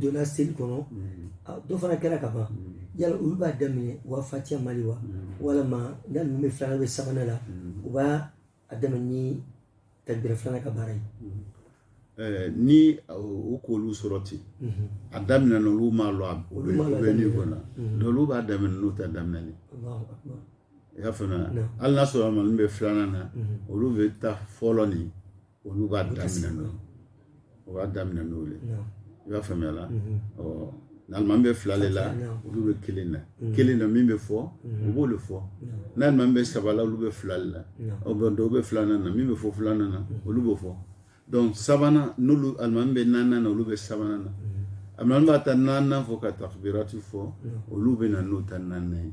donna seli kɔnɔ dɔ fana kɛra ka ban yala olu b'a daminɛ u b'a fatiya mali wa walima n'a ninnu bɛ filanan bɛ sabanan la u b'a a daminɛ ni takbira filanan ka baara ye Eh, ni u k'olu sɔrɔ ten mhm. a daminɛ na olu m'a lɔn u bɛ ni kɔnɔ mhm. n'olu b'a daminɛ n'u ta daminɛli i y'a faamuya hali n'a sɔrɔ alimami bɛ filanan na mhm. olu bɛ ta fɔlɔ nin olu b'a daminɛ n'o o b'a daminɛ n'o ye i b'a faamuya la ɔ n'alimami bɛ fila de la olu bɛ kelen na kelen na min bɛ fɔ u b'o de fɔ n'alimami bɛ saba la olu bɛ fila de la ɔ bon dɔw bɛ filanan na min bɛ fɔ filanan na olu b'o fɔ donc sabanan n'olu alimami bɛ naaninan na olu bɛ sabanan na alimami b'a ta naaninan fɔ ka takibirati fɔ olu bɛ na n'o ta naaninan ye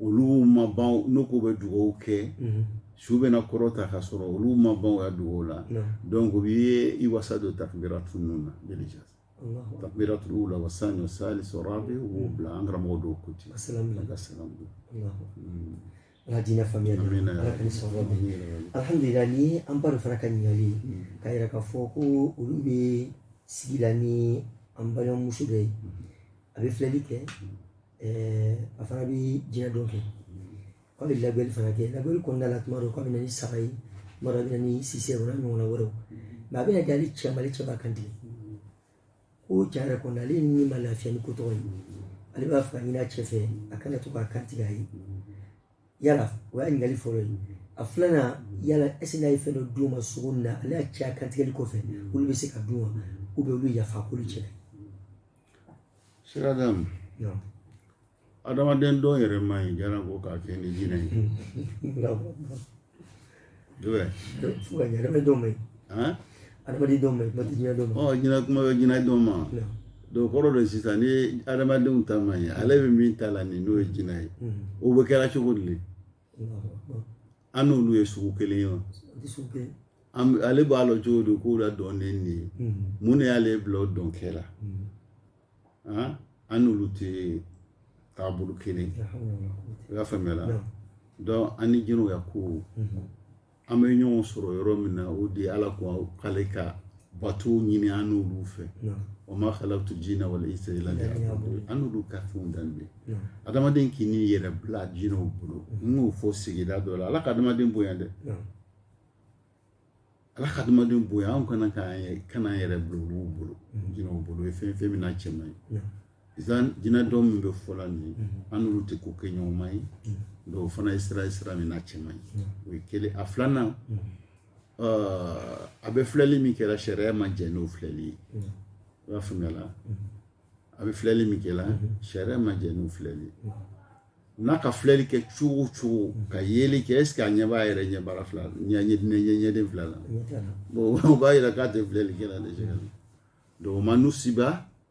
olu ma ban n'u ko bɛ dugawu kɛ su bɛna kɔrɔta ka sɔrɔ olu ma ban u ya dugawu la donc u ye i wasa don takubiratu ninnu na déjà takubiratu ula wa sani wa salis wa rabi u b'o bila an karamɔgɔ dɔw ko ten ka ala diinɛ faamuya ala ka ni sɔrɔ alihamdulila ni an ba fana ka ɲininkali k'a yira k'a fɔ ko olu bɛ sigi la ni an balimamuso dɔ ye a bɛ filɛli kɛ a fana bɛ jinɛ dɔn kɛ a bɛ labɛnni fana kɛ labɛnni kɔnɔna la tuma dɔw k'a bɛ na ni saga ye tuma dɔw a bɛ na ni sisɛ o n'a ɲɔgɔnna wɛrɛw mais a bɛ na kɛ ale cɛ ale cɛ b'a kan tigɛ ko cɛ yɛrɛ kɔnɔ ale ni ma lafiya ni ko tɔgɔ ye ale b'a fɛ ka ɲini a cɛ fɛ a kana to k'a kan tigɛ a ye yala o y'a ɲininkali fɔlɔ ye a filanan yala est ce n'a ye fɛn dɔ d'u ma sogo nin na ale ya cɛ a kantigɛli kɔfɛ olu bɛ se k'a dun wa olu yafa k'olu cɛ sira d'a ma adamaden dɔn yɛrɛ ma ɲi janko k'a kɛ ni jinɛ ye fo ka yɛrɛ dɔn ma ɲi adamaden dɔn ma ɲi kuma tɛ jinɛ dɔn ma ɔ jinɛ kuma bɛ jinɛ dɔn ma donc kɔrɔ don sisan ni adamadenw ta ma ɲi ale bɛ min ta la nin n'o ye jinɛ ye o bɛ kɛra cogo di an n'olu ye sugu kelen ye wa ale b'a lɔ cogo di k'o la dɔn ne nin ye mun de y'ale bila o dɔn kɛ la an n'olu tɛ taabolo kelen i y'a faamuya la donc an ni jinɛw ya ko an bɛ ɲɔgɔn sɔrɔ yɔrɔ min na o de ye ala ko k'ale ka bato ɲini an n'olu fɛ wa ma khalaqtu jinna wal insa illa liya'budun an n'olu ka fɛnw dan bɛ adamaden kan'i yɛrɛ bila jinɛw bolo n y'o fɔ sigida dɔ la ala ka adamaden bonya dɛ ala ka adamaden bonya an kana k'an yɛrɛ bila olu bolo jinɛw bolo o ye fɛn ye min n'a cɛ man ɲi jinɛ dɔn min bɛ fɔ la nin ye an n'olu tɛ ko kɛ ɲɔgɔnma ye donc o fana ye sira ye sira min n'a cɛ man ɲi o ye kelen a filanan a bɛ filɛli min kɛra sariya ma jɛ n'o filɛli ye i b'a faamuya la a bɛ filɛli min kɛra sariya ma jɛ n'o filɛli ye n'a ka filɛli kɛ cogo o cogo ka yeli kɛ est ce que a ɲɛ b'a yɛrɛ ɲɛ baara fila ɲɛ ɲɛ ɲɛ ɲɛden fila la bon o b'a yira k'a tɛ filɛli kɛla déjà donc o ma nusiba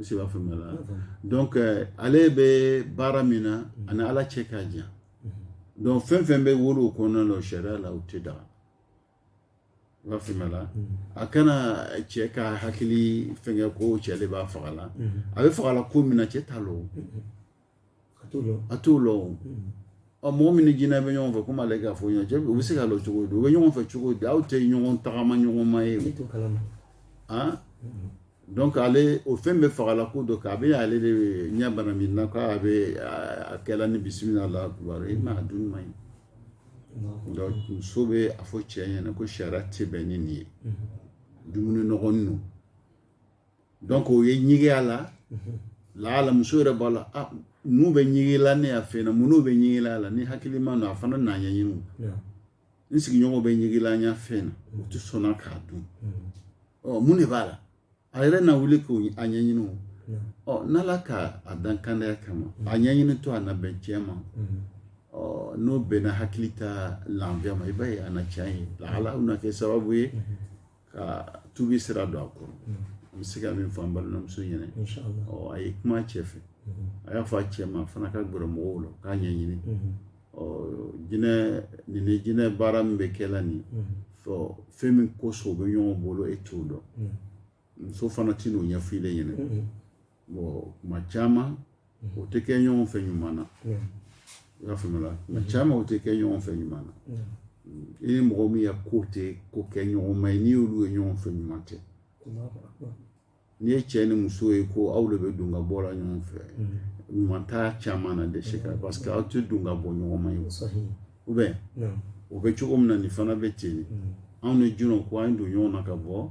i se b'a faamuya la donc euh, ale bɛ baara min na mm-hmm. ani ala cɛ ka jan mm-hmm. donc fɛn fɛn bɛ wolo o kɔnɔna na o sariya la o tɛ daga i b'a faamuya la mm-hmm. a kana cɛ ka hakili fɛnkɛ ko cɛ de b'a faga la a bɛ faga la ko min na cɛ t'a lɔ a t'o lɔ ɔ mɔgɔ min ni jinɛ bɛ ɲɔgɔn fɛ komi ale k'a fɔ ɲɔgɔn cɛ u bɛ se k'a lɔ cogo di u bɛ ɲɔgɔn fɛ cogo di aw tɛ ɲɔgɔn tagama ɲɔgɔn ma ye donc ale o fɛn bɛ faga la ko dɔ kɛ a bɛ ale de ɲɛ bana min na k'a bɛ a kɛla ni bisimila alahu akibaru i ma a dun man ɲi donc muso bɛ a fɔ cɛ ɲɛna ko sariya tɛ bɛn ni nin ye dumuni nɔgɔnin don donc o ye ɲigiya la laala muso yɛrɛ b'a la ah, n'u bɛ ɲigila ne y'a fɛn na mun n'u bɛ ɲigila la ni hakili ma na a fana n'a ɲɛɲini n sigiɲɔgɔn bɛ ɲigila n y'a fɛn na u tɛ sɔnna k'a dun ɔ mun de b'a la a yɛrɛ na wuli k'o a ɲɛɲini o ɔ n'ala ka a dan kandaya kama a ɲɛɲini to a na bɛn cɛ ma ɔ n'o bɛnna hakili ta lafiya ma i b'a ye a na caya ye lahala u na kɛ sababu ye ka tubi sira don a kɔrɔ an bɛ se ka min fɔ an balimamuso ɲɛna a ye kuma cɛ fɛ a y'a fɔ a cɛ ma a fana ka gɛrɛ mɔgɔw la k'a ɲɛɲini jinɛ nin ni jinɛ baara min bɛ kɛ la nin fɛn min kosɔn u bɛ ɲɔgɔn bolo e t'o dɔn muso fana tɛ n'o ɲɛfɔ i ɲɛna kuma caman o tɛ kɛ ɲɔgɔn fɛ ɲuman na i y'a faamuya kuma caman o tɛ kɛ ɲɔgɔn fɛ ɲuman na i ni mɔgɔ min ya ko tɛ ko kɛ ɲɔgɔn ma ye n'i y'olu ye ɲɔgɔn fɛ ɲuman tɛ n'i ye cɛ ni muso ye ko aw de bɛ don ka bɔ la ɲɔgɔn fɛ ɲuman t'a caman na de se ka parce que aw tɛ don ka bɔ ɲɔgɔn ma ye ou bien o bɛ cogo min na nin fana bɛ ten anw ni jinɛw ko an don ɲɔgɔn na ka bɔ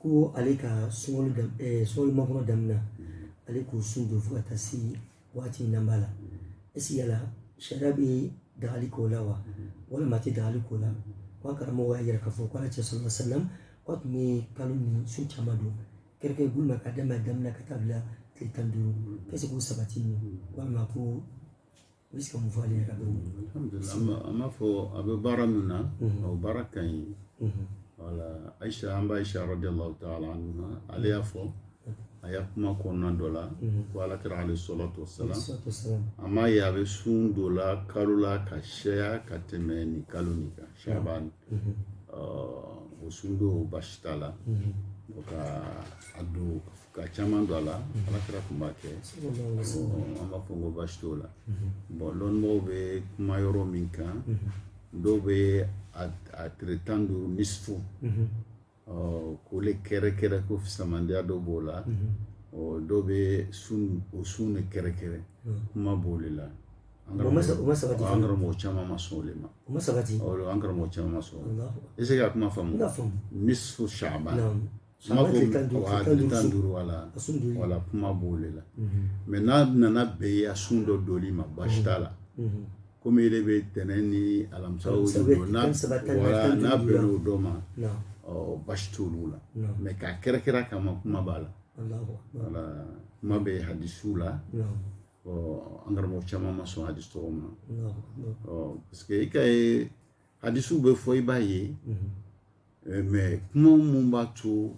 ko ale ka sunkalo dam ɛɛ sunkalo makɔnɔ daminɛ ale k'o sun don fo ka taa se waati in na b'a la est-ce que yala sariya bɛ dagali k'o la wa walima a tɛ dagali k'o la ko an karamɔgɔ y'a yira k'a fɔ ko ala kira sallallahu alayhi wa sallam ko a tun bɛ kalo nin sun caman don kɛrɛnkɛrɛn bolo ma ka daminɛ daminɛ ka taa bila tile tan ni duuru est-ce que o sabatinin walima ko U bɛ se ka mun fɔ ale ka dɔn an b'a fɔ a bɛ baara min na o baara ka ɲi voilà ayisa an ba ayisa radiyallahu taala anha ale y'a fɔ a y'a kuma kɔnɔna dɔ la ko ala kira alayhi salatu wasalam a m'a ye a bɛ sun dɔ la kalo la ka caya ka tɛmɛ nin kalo nin kan shaban o sun don basi t'a la ka a don ka caman don a la ala kira tun b'a kɛ an b'a fɔ ko basi t'o la bon lɔnmɔgɔw bɛ kuma yɔrɔ min kan dɔw bɛ a tile tan duuru nisfu k'ole kɛrɛ kɛrɛ ko fisamandiya dɔ b'o la dɔw bɛ o sun de kɛrɛ kɛrɛ kuma b'o de la an karamɔgɔ caman ma sɔn o de ma an karamɔgɔ caman ma sɔn est ce que a kuma faamu nisfu Shaban kuma tan duuru wala wala kuma b'o de la mais n'a nana bɛn i ya sun dɔ donli ma baasi t'a la Komi e bɛ tɛnɛn ni alamisa n'a bɛnna o dɔ ma basi t'o la mais k'a kɛrɛ kɛrɛ kama kuma b'a la voilà kuma bɛ hadisu la ɔ an karamɔgɔ caman ma sɔn hadisu tɔgɔ ma parce que i ka ye hadisu bɛ fɔ i b'a ye mais kuma minnu b'a to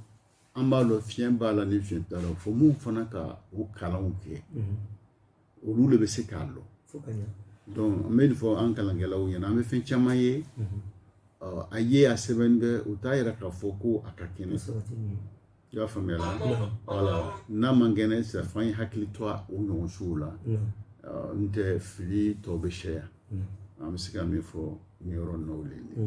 an b'a dɔn fiɲɛ b'a la ni fiɲɛ t'a la fo minnu fana ka o kalanw kɛ olu de bɛ se k'a dɔn donc an bɛ nin fɔ an kalankɛlaw ɲɛna an bɛ fɛn caman ye a ye a sɛbɛnni bɛ u t'a yira k'a fɔ ko a ka kɛnɛ i y'a faamuya la voilà n'a man kɛnɛ sɛfan ye hakili to o ɲɔgɔn sugu la n tɛ fili tɔ bɛ caya an bɛ se ka min fɔ nin yɔrɔ ninnu de ye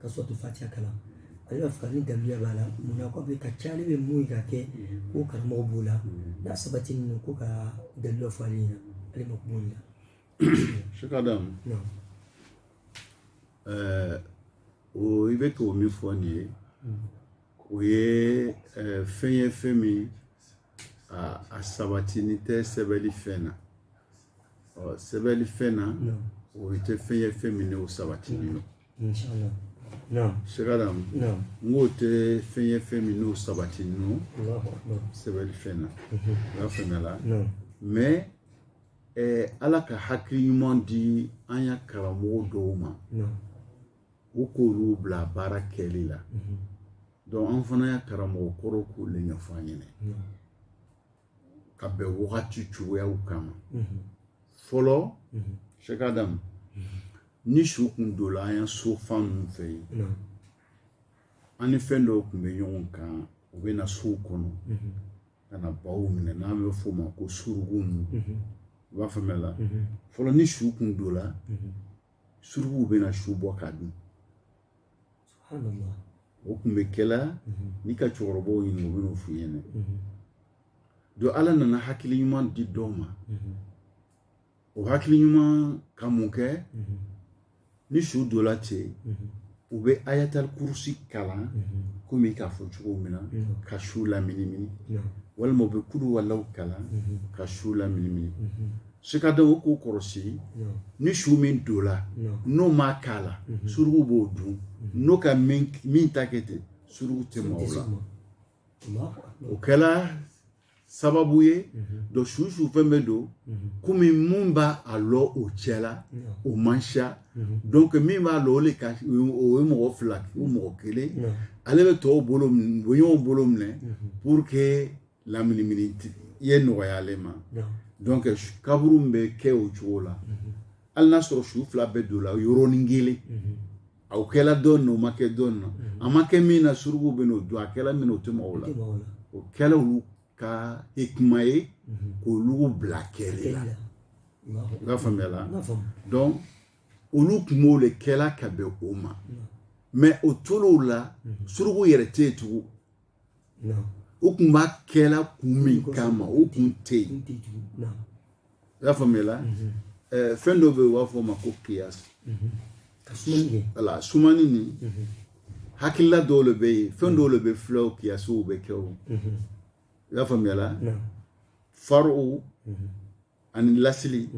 ka sɔrɔ to fatiya kalan ale b'a fɛ ka ni daluya b'a la mun na ko bɛ ka ca ale bɛ mun ye ka kɛ ko karamɔgɔ b'o la n'a sabatini no ko ka daluya fɔ ale ɲɛna ale ma kuma o la. Sheikh Adam ɛɛ o i bɛ ko min fɔ nin ye o ye ɛɛ fɛn ye fɛn min a a sabatini tɛ sɛbɛnni fɛn na ɔ sɛbɛnni fɛn na o tɛ fɛn ye fɛn min n'o sabatini don. Sheikh Adam n k'o tɛ fɛn ye fɛn min n'o sabatini no sɛbɛnni fɛn na mhm. o y'a faamuya la mais ala ka hakili ɲuman di an ya karamɔgɔ dɔw ma u k'olu bila baara kɛli la mhm. donc an fana ya karamɔgɔ kɔrɔ k'olu ɲɛfɔ an ɲɛna ka bɛn wagati cogoyaw kama fɔlɔ Sheikh Adam ni su kun dola an ya so fan ninnu fɛ yen an ni fɛn dɔw kun bɛ ɲɔgɔn kan u bɛ na sow kɔnɔ ka na baw minɛ n'an bɛ f'o ma ko surugu ninnu i b'a faamuya la fɔlɔ ni su kun dola suruguw bɛ na su bɔ k'a dun o kun bɛ kɛla mhm. n'i ka cɛkɔrɔbaw ɲini u bɛn'o f'i ɲɛna mhm. donc ala nana hakili ɲuman di dɔw ma mhm. o hakili ɲuman ka mun kɛ ni su dola ten u bɛ ayatali kurusi kalan komi i k'a fɔ cogo min na ka su laminimini walima u bɛ kulu walaw kalan ka su laminimini su ka don o k'o kɔrɔsi ni su min don la n'o ma k'a la suruku b'o dun n'o ka min ta kɛ ten suruku tɛ maga o la o kɛla sababu ye donc su su fɛn bɛ don kɔmi min b'a lɔn o cɛ la o man siya donc min b'a lɔn o de ka o ye mɔgɔ fila o mɔgɔ kelen ale bɛ tɔw bolo minɛ o ɲɔgɔn bolo minɛ pour que laminimini ye nɔgɔya ale ma donc kaburu bɛ kɛ o cogo la mhm. hali n'a sɔrɔ su fila bɛɛ don la yɔrɔnin kelen mhm. a kɛla dɔ na o ma kɛ dɔ na mhm. a ma kɛ min na suruku bɛ n'o dun a kɛla min na o tɛ maga o la o kɛla olu ka hikima ye k'olu bila kɛli la i b'a faamuya la donc olu tun b'o le kɛla ka bɛn o ma mais o tol'o la suruku yɛrɛ tɛ yen tugun o kun b'a kɛla kun min kama o kun tɛ yen i y'a faamuya mhm. eh, fɛn dɔ bɛ yen u b'a fɔ o ma ko kiyasi mhm. wala sumani nin mhm. hakilila dɔw le bɛ yen fɛn dɔw le bɛ filɛ o kiyasiw bɛ kɛ o i y'a faamuya faruw ani lasili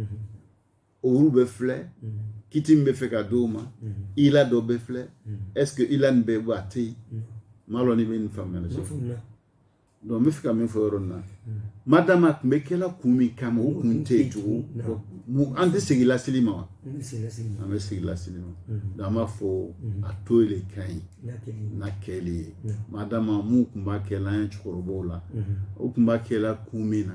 olu bɛ filɛ kiti min bɛ fɛ ka d'o ma ila dɔ bɛ filɛ est ce que ila nin bɛ bɔ a tɛ yen n m'a lɔn n'i bɛ nin faamuyali sɔrɔ donc n bɛ fɛ ka min fɔ yɔrɔ nin na madama a tun bɛ kɛla kun min kama o kun tɛ yen tugun an tɛ segin lasili ma wa an bɛ segin lasili ma donc an b'a fɔ a to le ka ɲi n'a kɛli ye madama mun tun b'a kɛ la an ye cɛkɔrɔbaw la o tun b'a kɛ la kun min na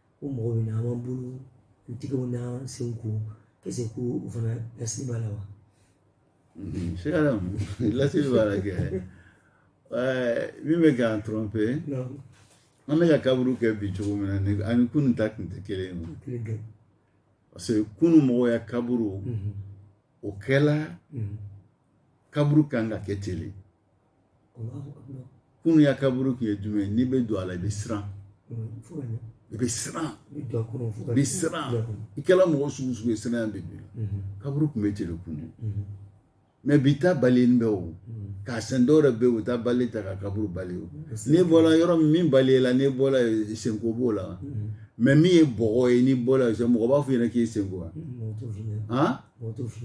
ko mɔgɔ bɛ na an b'an bolo an tigɛw n'an senw ko est ce que ko o fana lasili b'a la wa Sera lasili b'a la kɛ ɛɛ min bɛ k'an tromper non an bɛ ka kaburu kɛ bi cogo min na ni ani kunun ta kun tɛ kelen ye o. kile dɔ parce que kunun mɔgɔ ya kaburu Mhm. o kɛla Mhm. kaburu kan ka kɛ ten le kunun ya kaburu tun ye jumɛn ye n'i bɛ don a la i bɛ siran i bɛ siran i bɛ siran i kɛra mɔgɔ sugu sugu ye siranya de don kaburu tun bɛ ten le kunun mais bi ta bali bɛ o k'a sen dɔw yɛrɛ bɛ yen u taa balai ta ka kaburu balayer o n'i bɔra yɔrɔ min bali la n'i bɔra senko b'o la mais min ye bɔgɔ ye n'i bɔra mɔgɔ b'a fɔ i ɲɛna k'i sen ko wa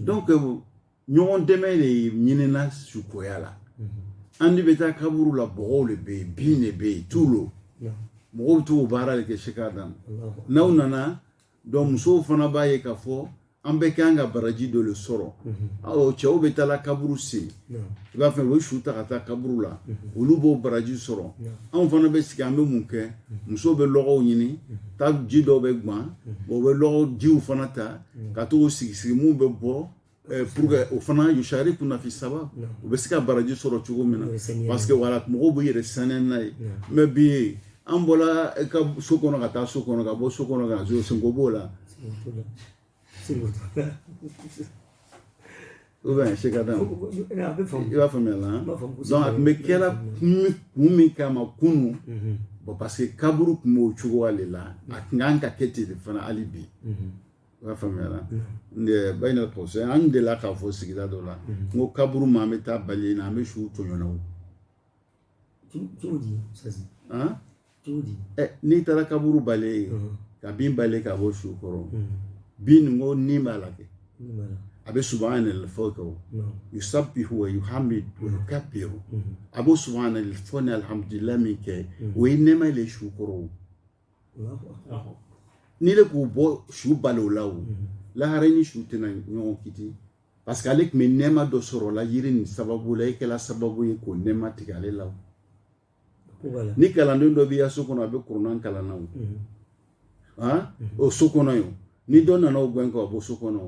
donc ɲɔgɔn dɛmɛ de ɲinina sukoya la an de bɛ taa kaburu la bɔgɔw de bɛ yen bin de bɛ yen tulo mɔgɔw bɛ t'o baara de kɛ sika dan n'aw nana donc musow fana b'a ye k'a fɔ an bɛɛ kan ka baraji dɔ de sɔrɔ ɔ cɛw bɛ taa la kaburu sen i b'a fɛ u bɛ su ta ka taa kaburu la olu b'o baraji sɔrɔ anw fana bɛ sigi an bɛ mun kɛ musow bɛ lɔgɔw ɲini taa ji dɔw bɛ gan o bɛ lɔgɔ jiw fana ta ka t'o sigi sigi mun bɛ bɔ Eh, pour que o fana yusharikuna fi sawab u bɛ se ka baraji sɔrɔ cogo min na parce que wala mɔgɔw bɛ yɛrɛ sɛnɛ n'a ye mais bi an bɔra eh, ka so kɔnɔ ka taa so kɔnɔ ka bɔ so kɔnɔ ka zo senko b'o la ou bien se ka dan i b'a faamuya la donc a tun bɛ kɛra kun min kama kunu mhm. bon parce que kaburu tun b'o cogoya de la a tun kan ka kɛ ten de fana hali bi mhm. O y'a faamuya ba in kɔsɔn an de la k'a fɔ sigida dɔ la n ko kaburu ma an bɛ taa balayer na an bɛ su tɔɲɔ n'i taara kaburu balayer ka bin balayer k'a bɔ su kɔrɔ bin nin ko ni b'a la kɛ a bɛ subhanallah fɔ ko yusabbihu wa yuhammidu wa yukabbiru a bɛ subhanallah fɔ ni alhamdulillah min kɛ o ye nɛɛma de su kɔrɔ n'ile k'u bɔ su balo la o mhm. lahara e ni su tɛna ɲɔgɔn kiti parce que ale tun bɛ nɛɛma dɔ sɔrɔ la yiri nin sababu la e kɛla sababu ye k'o nɛɛma tigɛ ale la ni kalanden dɔ b'i ka so kɔnɔ a bɛ kurana kalan na o mhm. mhm. o so kɔnɔ ye ni dɔ nana o gɛn k'a bɔ so kɔnɔ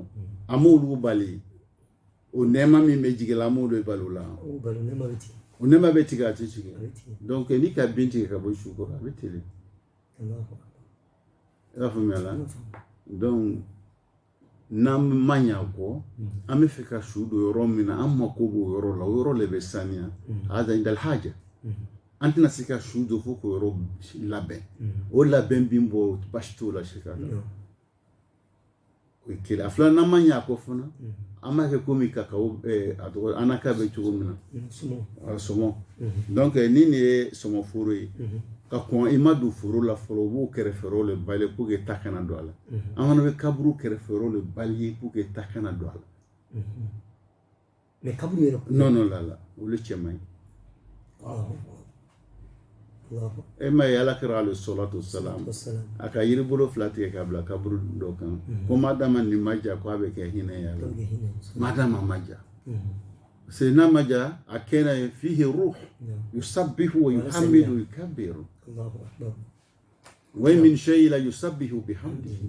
a m'olu bali o nɛɛma min bɛ jigin la an b'o de balo la o balo nɛɛma bɛ tigɛ o nɛɛma bɛ tigɛ a tɛ tigɛ donc n'i ka bin tigɛ k'a bɔ su kɔrɔ a bɛ ten de i y'a faamuya la donc n'an ma ɲɛ a kɔ an bɛ fɛ ka su don yɔrɔ min na an mako b'o yɔrɔ la o yɔrɔ de bɛ saniya haza indal haja an tɛna se ka su don fo k'o yɔrɔ labɛn o labɛn bin bɔ basi t'o la se ka o ye kelen a fila n'an ma ɲ'a kɔ fana an b'a kɛ komi ka a tɔgɔ anacarde bɛ cogo min na sɔmɔ donc ni nin ye sɔmɔ foro ye ka kɔn i ma don foro la fɔlɔ u b'o kɛrɛfɛrɔw de balayer pour que ta kana don a la an fana bɛ kaburu kɛrɛfɛrɔw de balayer pour que ta kana don a la mais kaburu yɛrɛ kɔnɔnɔ la la olu cɛ man ɲi e m'a ye Ala kira alayhi salatu wasalam a ka yiri bolo fila tigɛ k'a bila kaburu dɔ kan mhm. ko madama nin ma ja ko a bɛ kɛ hinɛ y'a la madama a ma ja mhm. c'est n'a ma ja a kɛnɛ ye fihi ruh yusabbihu wa yuhammidu wa yukabbiru wa min shay'in la yusabbihu bihamdihi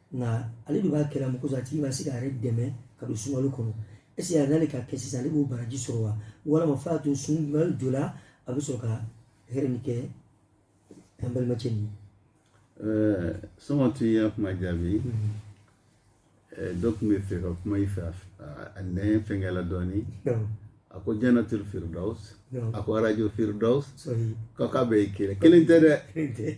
nka ale de b'a kɛla mɔgɔ a tigi ma se k'a yɛrɛ dɛmɛ ka don sunkalo kɔnɔ est-ce que a n'ale k'a kɛ sisan ale b'o baraji sɔrɔ wa walama f'a to sunkalo jɔ la a bɛ sɔrɔ ka hɛrɛ nin kɛ an balimacɛ nin ye. sɔngɔ tun y'a kuma jaabi donc n bɛ fɛ ka kuma i fɛ a nɛn fɛnkɛla dɔɔnin a ko janatul firdaus a ko arajo firdaus k'a bɛɛ ye kelen kelen tɛ dɛ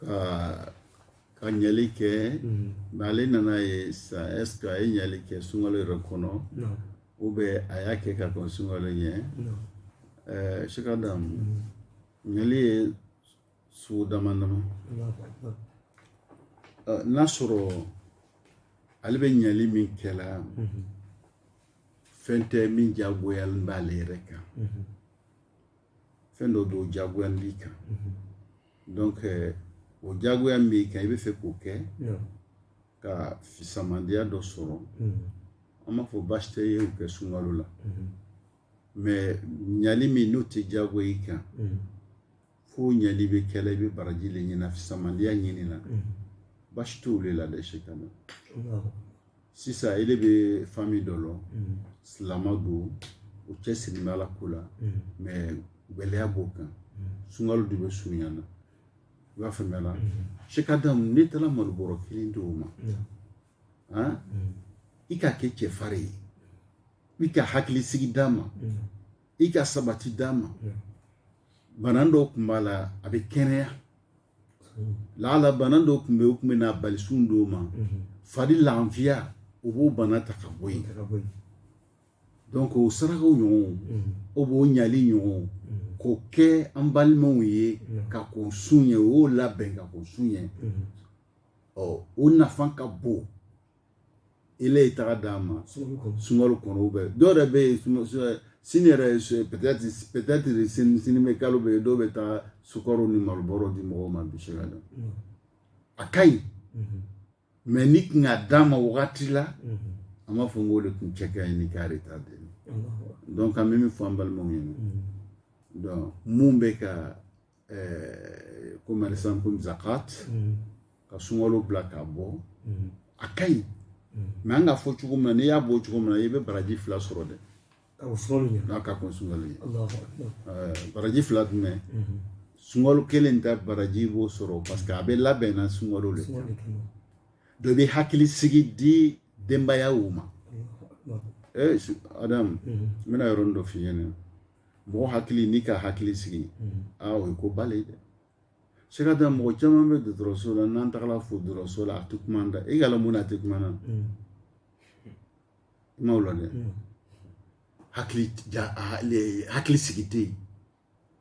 ka ka ɲali kɛ mɛ ale nana ye sa est-ce que a ye ɲali kɛ sunkalo yɛrɛ kɔnɔ ou bien a y'a kɛ ka kɔn sunkalo ɲɛ sɛk adamu ɲali ye sugu damadama n'a sɔrɔ ale bɛ ɲali min kɛla fɛn tɛ min jagoyalen b'ale yɛrɛ kan fɛn dɔ don jagoya b'i kan donc euh, o jagoya min b'i kan i bɛ fɛ k'o kɛ ka fisamandiya dɔ sɔrɔ an b'a fɔ baasi tɛ i ye o kɛ sunkalo la mais ɲali min n'o tɛ jagoya i kan fo ɲali bɛ kɛla i bɛ baraji de ɲini fisamandiya ɲinina baasi t'o de la dɛ sɛk adamu sisan ile bɛ famille dɔ lɔn mm. silama don u cɛsirilen bɛ ala ko la mm. mais gɛlɛya b'o kan mm. sunkalo de bɛ surunyana i b'a faamuyala sɛk adamu n'i taara malobɔrɔ kelen di o ma han i ka kɛ cɛfarin ye i ka hakilisigi d'a ma i ka sabati d'a ma bana dɔw tun b'a la a bɛ kɛnɛya laala bana dɔ tun bɛ o tun bɛna a bali sun don ma fari lafiya o b'o bana ta ka bɔ yen donc o sarakaw ɲɔgɔn ou bien o ɲali ɲɔgɔn k'o kɛ an balimaw ye ka kɔn sun ɲɛ o y'o labɛn ka kɔn sun ɲɛ ɔ o nafa ka bon ile taara d'a ma sunkalo kɔnɔ mais dɔw yɛrɛ bɛ yen sini yɛrɛ peut-être sini sini bɛ kalo bɛ ye dɔw bɛ taa sukaro ni malobɔrɔ di mɔgɔw ma bi sɛk adamu a ka ɲi mais n'i tun k'a d'a ma wagati la an b'a fɔ n k'o de tun cɛ ka ɲi ni k'ale ta dɛ donc an bɛ min fɔ an balimaw ɲɛna donc mun bɛ ka eh, comme exemple comme zakat mm. ka sunkalo bila k'a bɔ mm. a ka ɲi mais an k'a fɔ cogo min na n'i y'a bɔ cogo min na i bɛ baraji fila sɔrɔ dɛ n'a ka kɔn sunkalo ɲɛ eh, baraji fila jumɛn mm-hmm. sunkalo kelen ta baraji i b'o sɔrɔ parce que a bɛ labɛnna sunkalo le dɔ bɛ hakili sigi di denbayaw ma adamu n bɛna yɔrɔnin dɔ f'i ɲɛna mɔgɔ hakili n'i ka hakili sigi aa o ye ko ba le dɛ cheick adam mɔgɔ caman bɛ dɔgɔtɔrɔso la n'an tagara fo dɔgɔtɔrɔso la a tɛ kuma da e k'a lɔn mun na a tɛ kuma na kumaw la dɛ hakili hakili sigi tɛ yen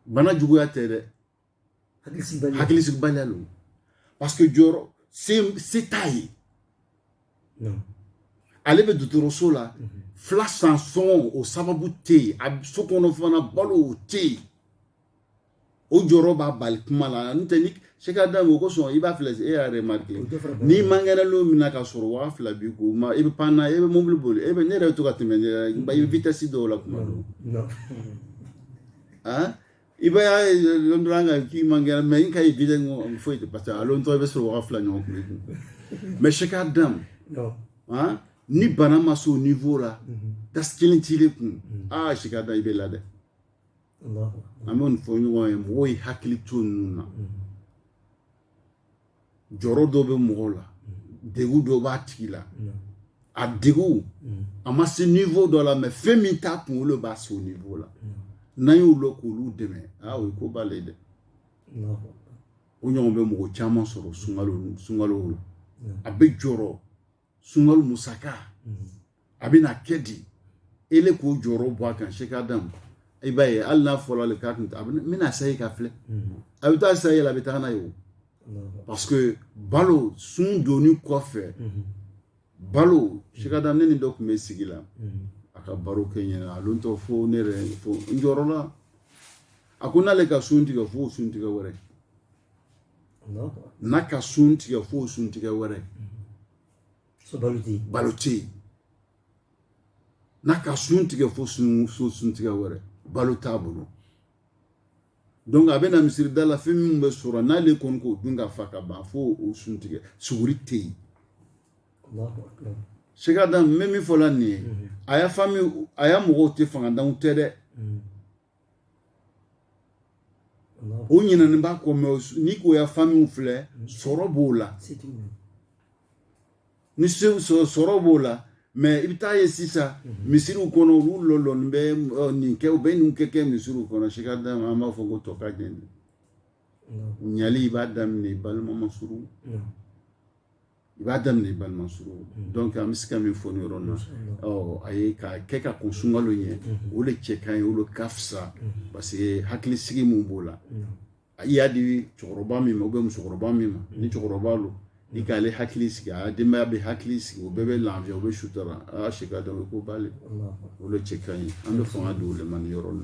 bana juguya tɛ dɛ hakilisigibaliya lo parce que jɔrɔ se t'a ye ale bɛ dɔgɔtɔrɔso la mhm. fila san sɔngɔ o sababu tɛ yen a so kɔnɔ fana balo o tɛ yen o jɔrɔ b'a bali kuma la n'o tɛ ni cheick adam o kosɔn i b'a filɛ e y'a remarqué n'i man kɛnɛ lon min na ka sɔrɔ waa fila b'i kɔ ma i bɛ pan na e bɛ mobili boli e bɛ ne yɛrɛ to ka tɛmɛ ne yɛrɛ i bɛ vitesse dɔw la kuma dɔw i b'a ye lon dɔrɔn kan k'i man kɛnɛ mais n k'a ye bi de ko foyi tɛ parce que a lon tɔ i bɛ sɔrɔ waga fila ɲɔgɔn kun kun mais cheick adam ni bana ma s'o niveau la tasi kelen t'i le kun aa cheick adam i bɛ la dɛ an b'o nin fɔ ɲɔgɔn ye mɔgɔw ye hakili to ninnu na jɔrɔ dɔ bɛ mɔgɔ la degu dɔ b'a tigi la a degu a ma se niveau dɔ la mais fɛn min t'a kun o le b'a se o niveau la n'an y'u lɔn k'olu dɛmɛ aa o ye ko ba le dɛ o ɲɔgɔn bɛ mɔgɔ caman sɔrɔ sunkalo la a bɛ jɔrɔ sunkalo musaka mhm. a bɛna kɛ di e le k'o jɔrɔ bɔ a kan cheick adam i b'a ye hali n'a fɔra le k'a bɛna sayi ka filɛ mhm. a bɛ taa sayi la a bɛ taga n'a ye o parce que balo sun donni kɔfɛ mhm. balo cheick adam ne ni dɔ tun bɛ sigi la a ka baro kɛ n ɲɛna a lon tɔ fo ne yɛrɛ fo n jɔrɔla a ko n'ale ka sun tigɛ fo sun tigɛ wɛrɛ n'a ka sun tigɛ fo sun tigɛ wɛrɛ balo tɛ yen n'a ka sun tigɛ fo sun tigɛ wɛrɛ balo t'a bolo donc a bɛna misirida la fɛn min bɛ sɔrɔ n'ale kɔni k'o dun ka fa ka ban fo o sun tigɛ suguri tɛ yen cheick adam n bɛ min fɔ la nin ye a ya famille a ya mɔgɔw tɛ fangantanw tɛ dɛ o ɲinɛnen b'a kɔ mais n'i k'o ya famille filɛ sɔrɔ b'o la ni sɔrɔ b'o la mais i bɛ taa ye sisan misiriw kɔnɔ olu lɔlɔni bɛ nin kɛ u bɛ nin kɛ kɛ misiriw kɔnɔ cheick adam an b'a fɔ ko tɔ ka jɛn ɲali i b'a daminɛ i balima masurun i b'a daminɛ balima surun donc an bɛ se ka min fɔ ni yɔrɔ na a ye ka kɛ ka kɔn sunkalo ɲɛ o de cɛ ka ɲi o le ka fisa parce que hakili sigi min b'o la a i y'a di cɛkɔrɔba min ma u bɛ musokɔrɔba min ma ni cɛkɔrɔba don i k'ale hakili sigi a denbaya bɛ hakili sigi o bɛɛ bɛ lafiya o bɛ sutura si ka dɔn ko ba le o le cɛ ka ɲi an bɛ fanga don o de ma ni yɔrɔ na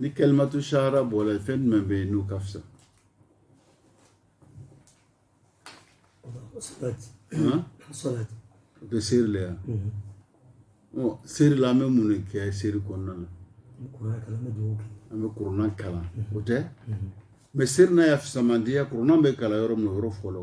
ni kalimatu sahada bɔra yen fɛn jumɛn bɛ yen n'u ka fisa o tɛ seri la yan seri la an bɛ mun de kɛ seri kɔnɔna na an bɛ kuranɛ kalan o tɛ mais seri n'a y'a fisamandiya kuranɛ bɛ kalan yɔrɔ min o yɔrɔ fɔlɔ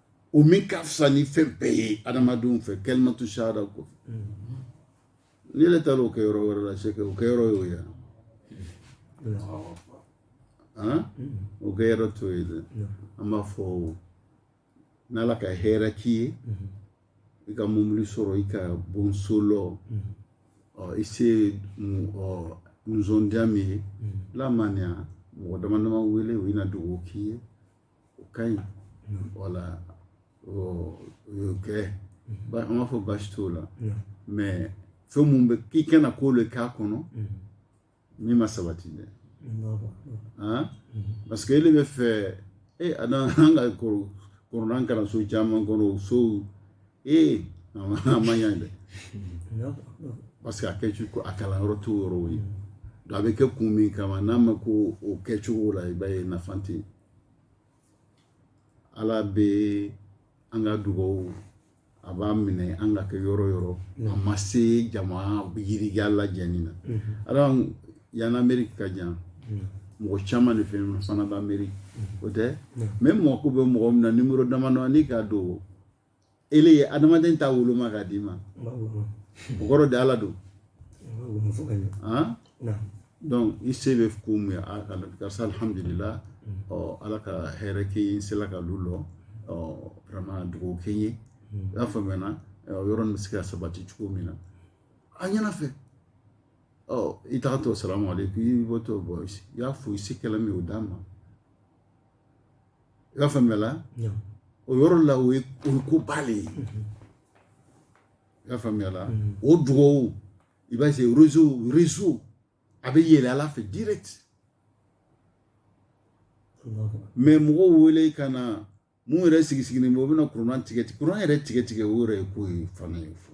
o min ka fisa ni fɛn bɛɛ ye adamadenw fɛ kalimatu sahada kɔ n'e yɛrɛ taara o kɛ yɔrɔ wɛrɛ la est-ce que o kɛ yɔrɔ y'o ye o kɛ yɔrɔ t'o ye dɛ an b'a fɔ n'ala ka hɛrɛ k'i ye i ka mobili sɔrɔ i ka bon so lɔ i se nisɔndiya min ye lamaniya mɔgɔ dama dama wele u bɛna dugawu k'i ye o ka ɲi wala o y'o kɛ an b'a fɔ baasi t'o la mais fɛn minnu bɛ k'i kana ko de k'a kɔnɔ min ma sabati dɛ parce que e bɛ fɛ e a an ka kuranɛ kalanso caman kɔnɔ o sow ee a ma a ma ɲa dɛ parce que a kɛ cogo a kalan yɔrɔ t'o yɔrɔw ye donc a bɛ kɛ kun min kama n'a ma kɛ o kɛcogo la i b'a ye nafa tɛ yen ala bɛ an ka dugawu a b'a minɛ an ka kɛ yɔrɔ yɔrɔ a ma se jama yirigiya lajɛni na ala yan ameriki ka jan mɔgɔ caman de fɛ yen fana bɛ ameriki o tɛ mais i mako bɛ mɔgɔ min na nimoro damadɔ n'i k'a don e ye adamaden ta woloma k'a d'i ma o kɔrɔ de ala don donc i se bɛ ko mun ye karisa alhamdulila ɔ ala ka hɛrɛ kɛ n ye n sela ka lu lɔ ɔ vraiment dugawu kɛ n ye i y'a faamuyana yɔrɔ nin bɛ se ka sabati cogo min na a ɲɛna fɛ ɔ i tagatɔ salamu aleykum i bɔtɔ bɔ i y'a fo i se kɛla min o d'a ma i b'a faamuya la o yɔrɔ la o ye o ye ko ba le ye i y'a faamuya la o dugawu i b'a se réseau réseau a bɛ yɛlɛ ala fɛ direct mais mɔgɔw wele ka na mun yɛrɛ sigi sigilen bɛ o bɛna kuran tigɛ kuran yɛrɛ tigɛ tigɛ o yɛrɛ ye ko ye fana ye fo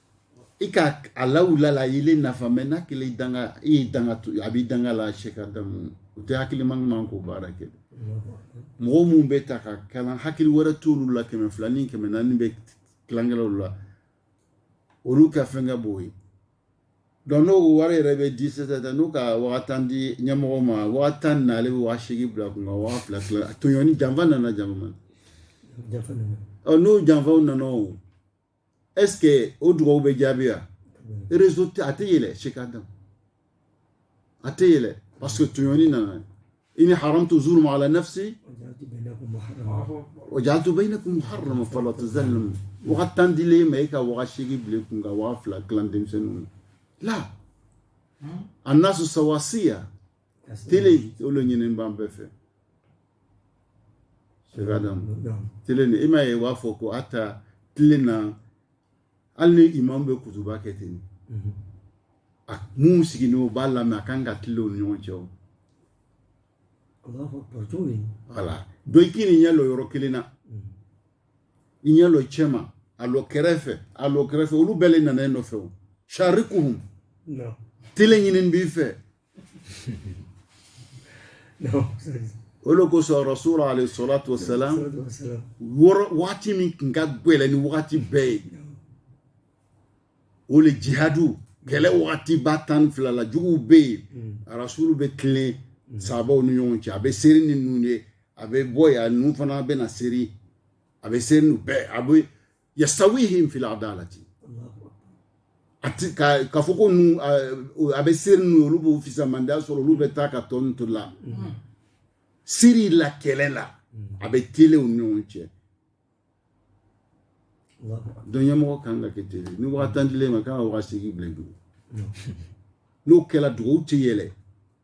i ka a lawula la i le nafa mɛ n'a kɛlen i danga i ye danga to a b'i danga la sɛki adamu o tɛ hakilima ɲuman k'o baara kɛ mɔgɔ minnu bɛ taa ka kalan hakili wɛrɛ t'olu la kɛmɛ fila ni kɛmɛ naani bɛ tilankɛlaw la olu ka fɛn ka b'o ye dɔnku n'o wari yɛrɛ bɛ di sisan n'o ka waa tan di ɲɛmɔgɔ ma waa tan na ale bɛ waa seegin bila kun ka waa fila fila tɔɲɔni janfa nana jama ma ɔ n'o janfaw nana o ɛske o dugawu bɛ jaabi wa rezo tɛ a tɛ yɛlɛ sɛki adam a tɛ yɛlɛ parce que tɔɲɔni nana inni haramtu zulma ala nafsi wa jaaltu bayinakum muharaman fala tuzalimu waga tan dilen ma e ka waga seegin bil'i kun ka waga fila tilan denmisɛnninw la annasu sawasiya tele o lo ɲinin b'an bɛɛ fɛ tele ni i m'a ye u b'a fɔ ko hata tele na hali ni imam bɛ kutuba kɛ ten mhm. a mun sigilen o b'a lamɛn a kan ka tele o ni ɲɔgɔn cɛ voilà dɔ i kan'i ɲɛ lɔ yɔrɔ kelen na mhm. i ɲɛ lɔ cɛma a lɔ kɛrɛfɛ a lɔ kɛrɛfɛ olu bɛɛ le nana e nɔfɛ o sharikuhum tele ɲinin b'i fɛ o le kosɔn rasul alayhi salatu wa salam waati min tun ka gɛlɛn ni waati bɛɛ ye o le jihadu kɛlɛ waati ba tan ni fila la juguw bɛ yen mm. rasul bɛ tilen mm. sabaw ni ɲɔgɔn cɛ a bɛ seri ni ninnu ye a bɛ bɔ yan ninnu fana bɛ na seri a bɛ seri ninnu bɛɛ a bɛ yusawihim fil adalati a ti kɛ k'a fɔ ko nu a bɛ seri nu olu bɛ fisamandiya sɔrɔ olu bɛ taa ka tɔ nu to la seri la kɛlɛ la a bɛ tele u ni ɲɔgɔn cɛ dɔnku ɲɛmɔgɔ kan ka kɛ tele ni waga tan dilen ma k'a waga seegin bilen dugu n'o kɛra dugawu tɛ yɛlɛ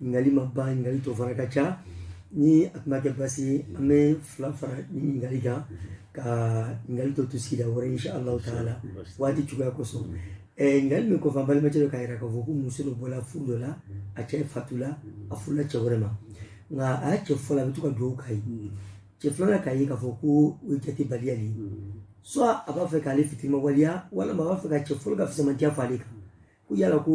ɲininkali ma ban ɲininkali tɔ fana ka ca ni a tun ma kɛ basi ye an bɛ fila fara ɲininkali kan ka ɲininkali tɔ to sigida wɛrɛ insha allahu taala waati cogoya kosɔn ɲininkali min kɔfɛ an balimakɛ dɔ k'a yira k'a fɔ ko muso dɔ bɔla furu dɔ la a cɛ fatula a furula cɛ wɛrɛ ma nka a y'a cɛ fɔlɔ a bɛ to ka dugawu k'a ye cɛ filanan k'a ye k'a fɔ ko o ye jatebaliya de ye soit a b'a fɛ k'ale fitiriwaleya walima a b'a fɛ ka cɛ fɔlɔ ka fisamantiya fɔ ale kan ko yala ko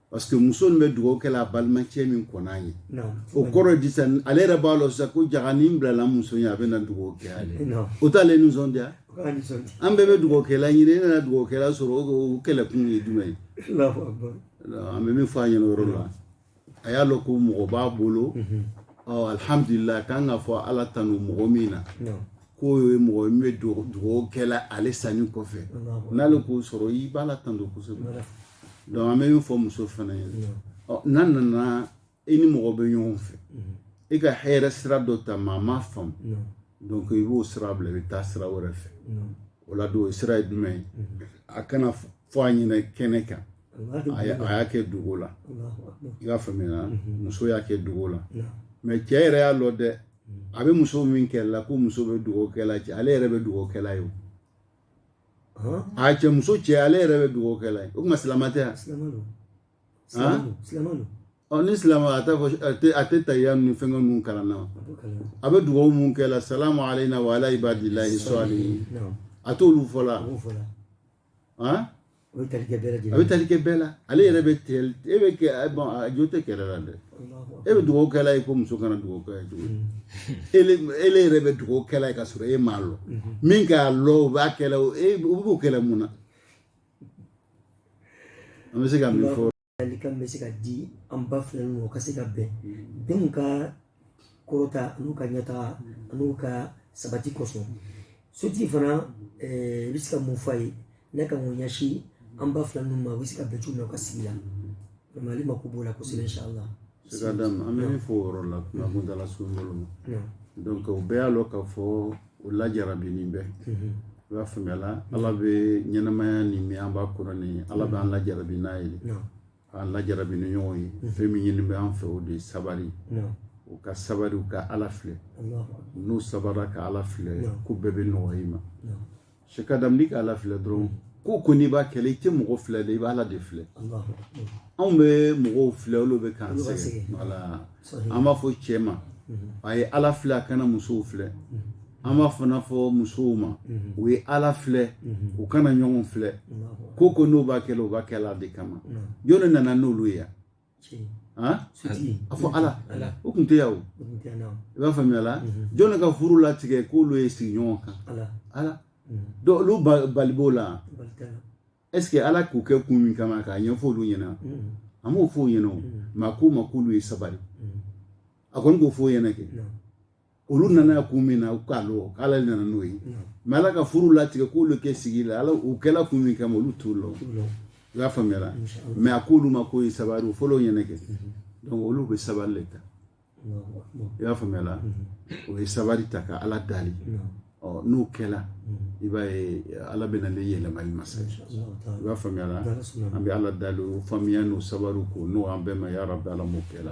parce que muso nin bɛ dugawu kɛla a balimacɛ min kɔnna ye o kɔrɔ di sisan ale yɛrɛ b'a lɔn sisan ko jaga ni bilala muso ye a bɛ na dugawu kɛ ale o t'ale nisɔndiya an bɛɛ bɛ dugawu kɛla ɲini e nana dugawu kɛla sɔrɔ o kɛlɛkun ye jumɛn ye an bɛ min fɔ a ɲɛna yɔrɔ la a y'a lɔn ko mɔgɔ b'a bolo alihamudulila a kan ka fɔ ala tanu mɔgɔ min na k'o ye mɔgɔ min bɛ dugawu kɛla ale sanin kɔfɛ n'ale k'o sɔrɔ i b'ala tando kosɛbɛ donc an bɛ min fɔ muso fana ye n'a nana i ni mɔgɔ bɛ ɲɔgɔn fɛ i ka hɛrɛ sira dɔ ta maa ma faamu donc i b'o sira bila i bɛ taa sira wɛrɛ fɛ o la don o sira ye jumɛn ye a kana fɔ a ɲɛna kɛnɛ kan a y'a kɛ dogo la i y'a faamuya muso y'a kɛ dogo la mais cɛ yɛrɛ y'a lɔ dɛ a bɛ muso min kɛlɛ la ko muso bɛ dugawu kɛla cɛ ale yɛrɛ bɛ dugawu kɛla ye o a cɛ muso cɛ ale yɛrɛ bɛ dugawu kɛla ye o tuma silamɛ tɛ yan ni silamɛ a t'a fɔ a tɛ tahiya ni fɛnkɛ ninnu kalan na a bɛ dugawu mun kɛla salamu alayna wa ala ibadillahi salihin a t'olu fɔ la O bɛ tali kɛ bɛɛ lajɛlen na. A bɛ tali kɛ bɛɛ la. Ale yɛrɛ bɛ tigɛli e bɛ kɛ bon a jo tɛ kɛlɛ la dɛ. E bɛ dugawu kɛla ye ko muso kana dugawu kɛ ye cogo di? Ele ele yɛrɛ bɛ dugawu kɛla ye ka sɔrɔ e m'a lɔ. Min k'a lɔ o b'a kɛla o e o b'o kɛla mun na? An bɛ se ka min fɔ Lalikan bɛ se ka di an ba fila ninnu ka se ka bɛn denw ka kɔrɔta an'u ka ɲɛtaga an'u ka sabati kosɔn sotigi fana i bɛ se ka mun fɔ a ye ni ka mun ɲɛsin an ba fila ninnu ma u bɛ se ka bɛn cogo min na u ka sigi la ale mako b'o la kosɛbɛ inshallah sɛki adama an bɛ min fɔ o yɔrɔ la kuma kun taara sun bolo ma donc o bɛɛ y'a lɔ ka fɔ o lajarabinin bɛɛ i b'a faamuya la ala bɛ ɲɛnamaya nin min an b'a kɔnɔ nin ala bɛ an lajarabi n'a ye an lajarabi ni ɲɔgɔn ye fɛn min ɲini bɛ an fɛ o de ye sabari u ka sabari u ka ala filɛ n'u sabara ka ala filɛ ko bɛɛ bɛ nɔgɔya i ma Sɛki Adam k' ala filɛ dɔrɔn ko o ko n'i b'a kɛla i tɛ mɔgɔ filɛ dɛ i bɛ ala de filɛ anw bɛ mɔgɔw filɛ olu bɛ k'an sɛgɛn an b'a fɔ cɛ ma a ye ala filɛ a kana musow filɛ an b'a fana fɔ musow ma u ye ala filɛ u kana ɲɔgɔn filɛ ko o ko n'o b'a kɛ u b'a kɛ ala de kama jɔn de nana n'olu ye yan a fɔ ala o tun tɛ yan o i b'a faamuya la jɔn ka furu latigɛ k'olu ye sigi ɲɔgɔn kan ala don olu bali b'o la est-ce que ala k'u kɛ kun min kama k'a ɲɛfɔ olu ɲɛna a m'o fɔ o ɲɛna o mais a k'o ma k'olu ye sabali a kɔni k'o fɔ o ɲɛna kɛ olu nana kun min na u k'a lɔ ala nana n'o ye mɛ ala ka furu latigɛ k'olu kɛ sigi la ala u kɛla kun min kama olu t'o lɔ i y'a faamuyara mɛ a k'olu ma k'o ye sabari o fɔlɔ ɲɛna kɛ donc olu bɛ sabari le ta i y'a faamuyara o ye sabari ta ka ala dali ɔ n'o kɛla i b'a ye ala bɛna ne yɛlɛma i ma sa i b'a faamuyara an bɛ ala dali o faamuya n'o sabari k'o nɔgɔya an bɛɛ ma yarabi ala m'o kɛla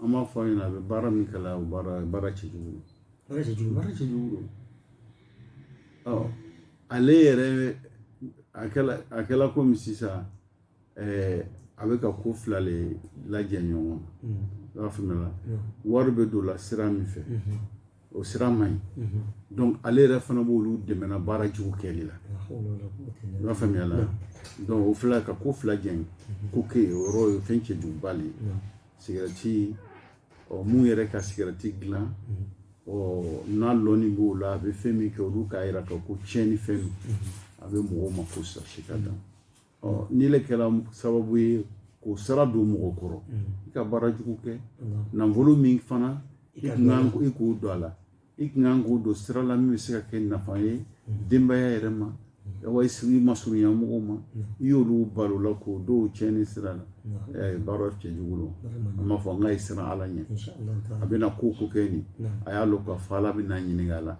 an b'a fɔ a ɲɛna a bɛ baara min kɛ la o baara baara cɛjugu baara cɛjugu baara cɛjugu ɔ ale yɛrɛ a kɛla a kɛla komi sisan ɛɛ a bɛ ka ko fila le lajɛ ɲɔgɔn na i b'a faamuya wari bɛ don la sira min fɛ o sira man ɲi dɔnku ale yɛrɛ fana b'olu dɛmɛna baara jugu kɛ la i b'a faamuya la dɔnku o fila ka ko fila jɛn k'o kɛ o yɔrɔ ye fɛn cɛjuguba de ye sigarɛti ɔ mun yɛrɛ ka sigarɛti dilan ɔ n'a lɔnni b'o la a bɛ fɛn min kɛ olu k'a jira k'a ko tiɲɛnni fɛn don a bɛ mɔgɔw makosa si ka dan ɔ n'i le kɛra sababu ye k'o sara don mɔgɔ kɔrɔ i ka baara jugu kɛ nafolo min fana i ka i k'o don a la i kun kan k'o don sira la min bɛ se ka kɛ nafa ye denbaya yɛrɛ ma wa i masurunya mɔgɔw ma i y'olu bali o la k'o don cɛnni sira la baara cɛjugu don an b'a fɔ a ɲɛ a ye siran ala ɲɛ a bɛna ko o ko kɛ nin a y'a lɔ k'a fɔ ala bɛna ɲininka a la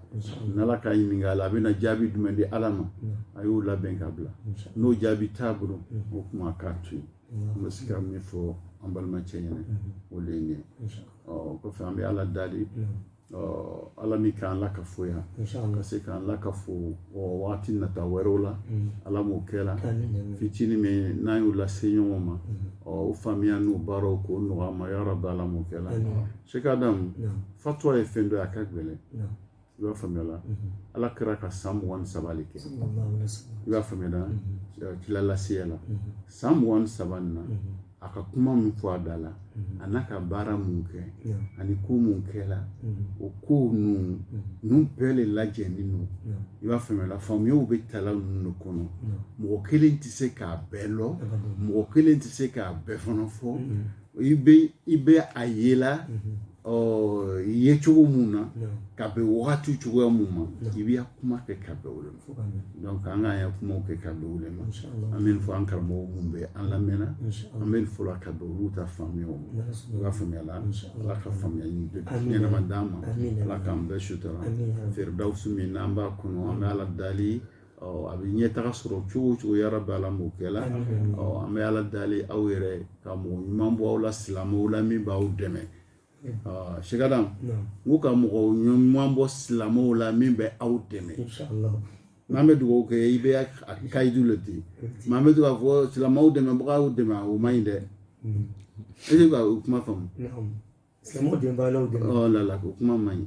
n'ala k'a ɲininka a la a bɛna jaabi jumɛn di ala ma a y'o labɛn ka bila n'o jaabi t'a bolo o tuma k'a to yen an bɛ se ka min fɔ an balimacɛ ɲɛna o de ye nin ye ɔ kɔfɛ an bɛ ala dali ala min k'an lakafo yan ka se k'an lakafo waati nata wɛrɛw la ala m'o kɛra fitinin min n'an y'o lase ɲɔgɔn ma o faamuya n'o baara k'o nɔgɔya an ma yarabi ala m'o kɛra sɛki adama fatuwa ye fɛn dɔ ye a ka gɛlɛn i b'a faamuya la ala kira ka san mugan ni saba de kɛ i b'a faamuya la kilalaseya la san mugan ni saba nin na a ka kuma min fɔ a da la mhm. an'a ka baara mun kɛ ani ko mun kɛla mhm. o kow ninnu mhm. ninnu bɛɛ le lajɛlen don i b'a faamuya faamuyaw bɛ tala ninnu de kɔnɔ mɔgɔ kelen tɛ se k'a bɛɛ lɔ mɔgɔ kelen tɛ se k'a bɛɛ fana fɔ i bɛ i bɛ a ye la ɔ i ye cogo mun na ka bɛn wagati cogoya mun ma i b'i kuma kɛ ka bɛn o de ma donc an k'an ya kumaw kɛ ka bɛn o de ma an bɛ nin fɔ an karamɔgɔ mun bɛ an lamɛnna an bɛ nin fɔla ka bɛn olu ta faamuyaw ma i b'a faamuya la ala ka faamuyali ɲɛnama d'an ma ala k'an bɛɛ sutura firidawusu min n'an b'a kɔnɔ an bɛ ala dali a bɛ ɲɛtaga sɔrɔ cogo o cogo yarabi ala m'o kɛ la an bɛ ala dali aw yɛrɛ ka mɔgɔ ɲuman bɔ aw la silamɛw la min b'aw dɛmɛ sigada n'u ka mɔgɔ ɲuman bɔ silamɛw la min bɛ aw dɛmɛ n'an bɛ dugawu kɛ i bɛ a kayidu le ten mɛ an bɛ to k'a fɔ silamɛw dɛmɛbagaw dɛmɛ o man ɲi dɛ e bɛ ka o kuma faamu silamɛw dɛmɛbagaw dɛmɛ lala o kuma man ɲi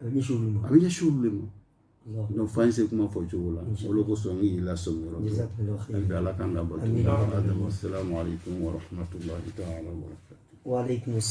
a bɛ ɲɛsin olu de ma donc fo an se kuma fɔ cogo la o le kosɔn n y'i lasɔmi yɔrɔ hali bi ala k'an ka bato ala dama salamu alaikum wa rahmatullahi ta'ala wa barakatuh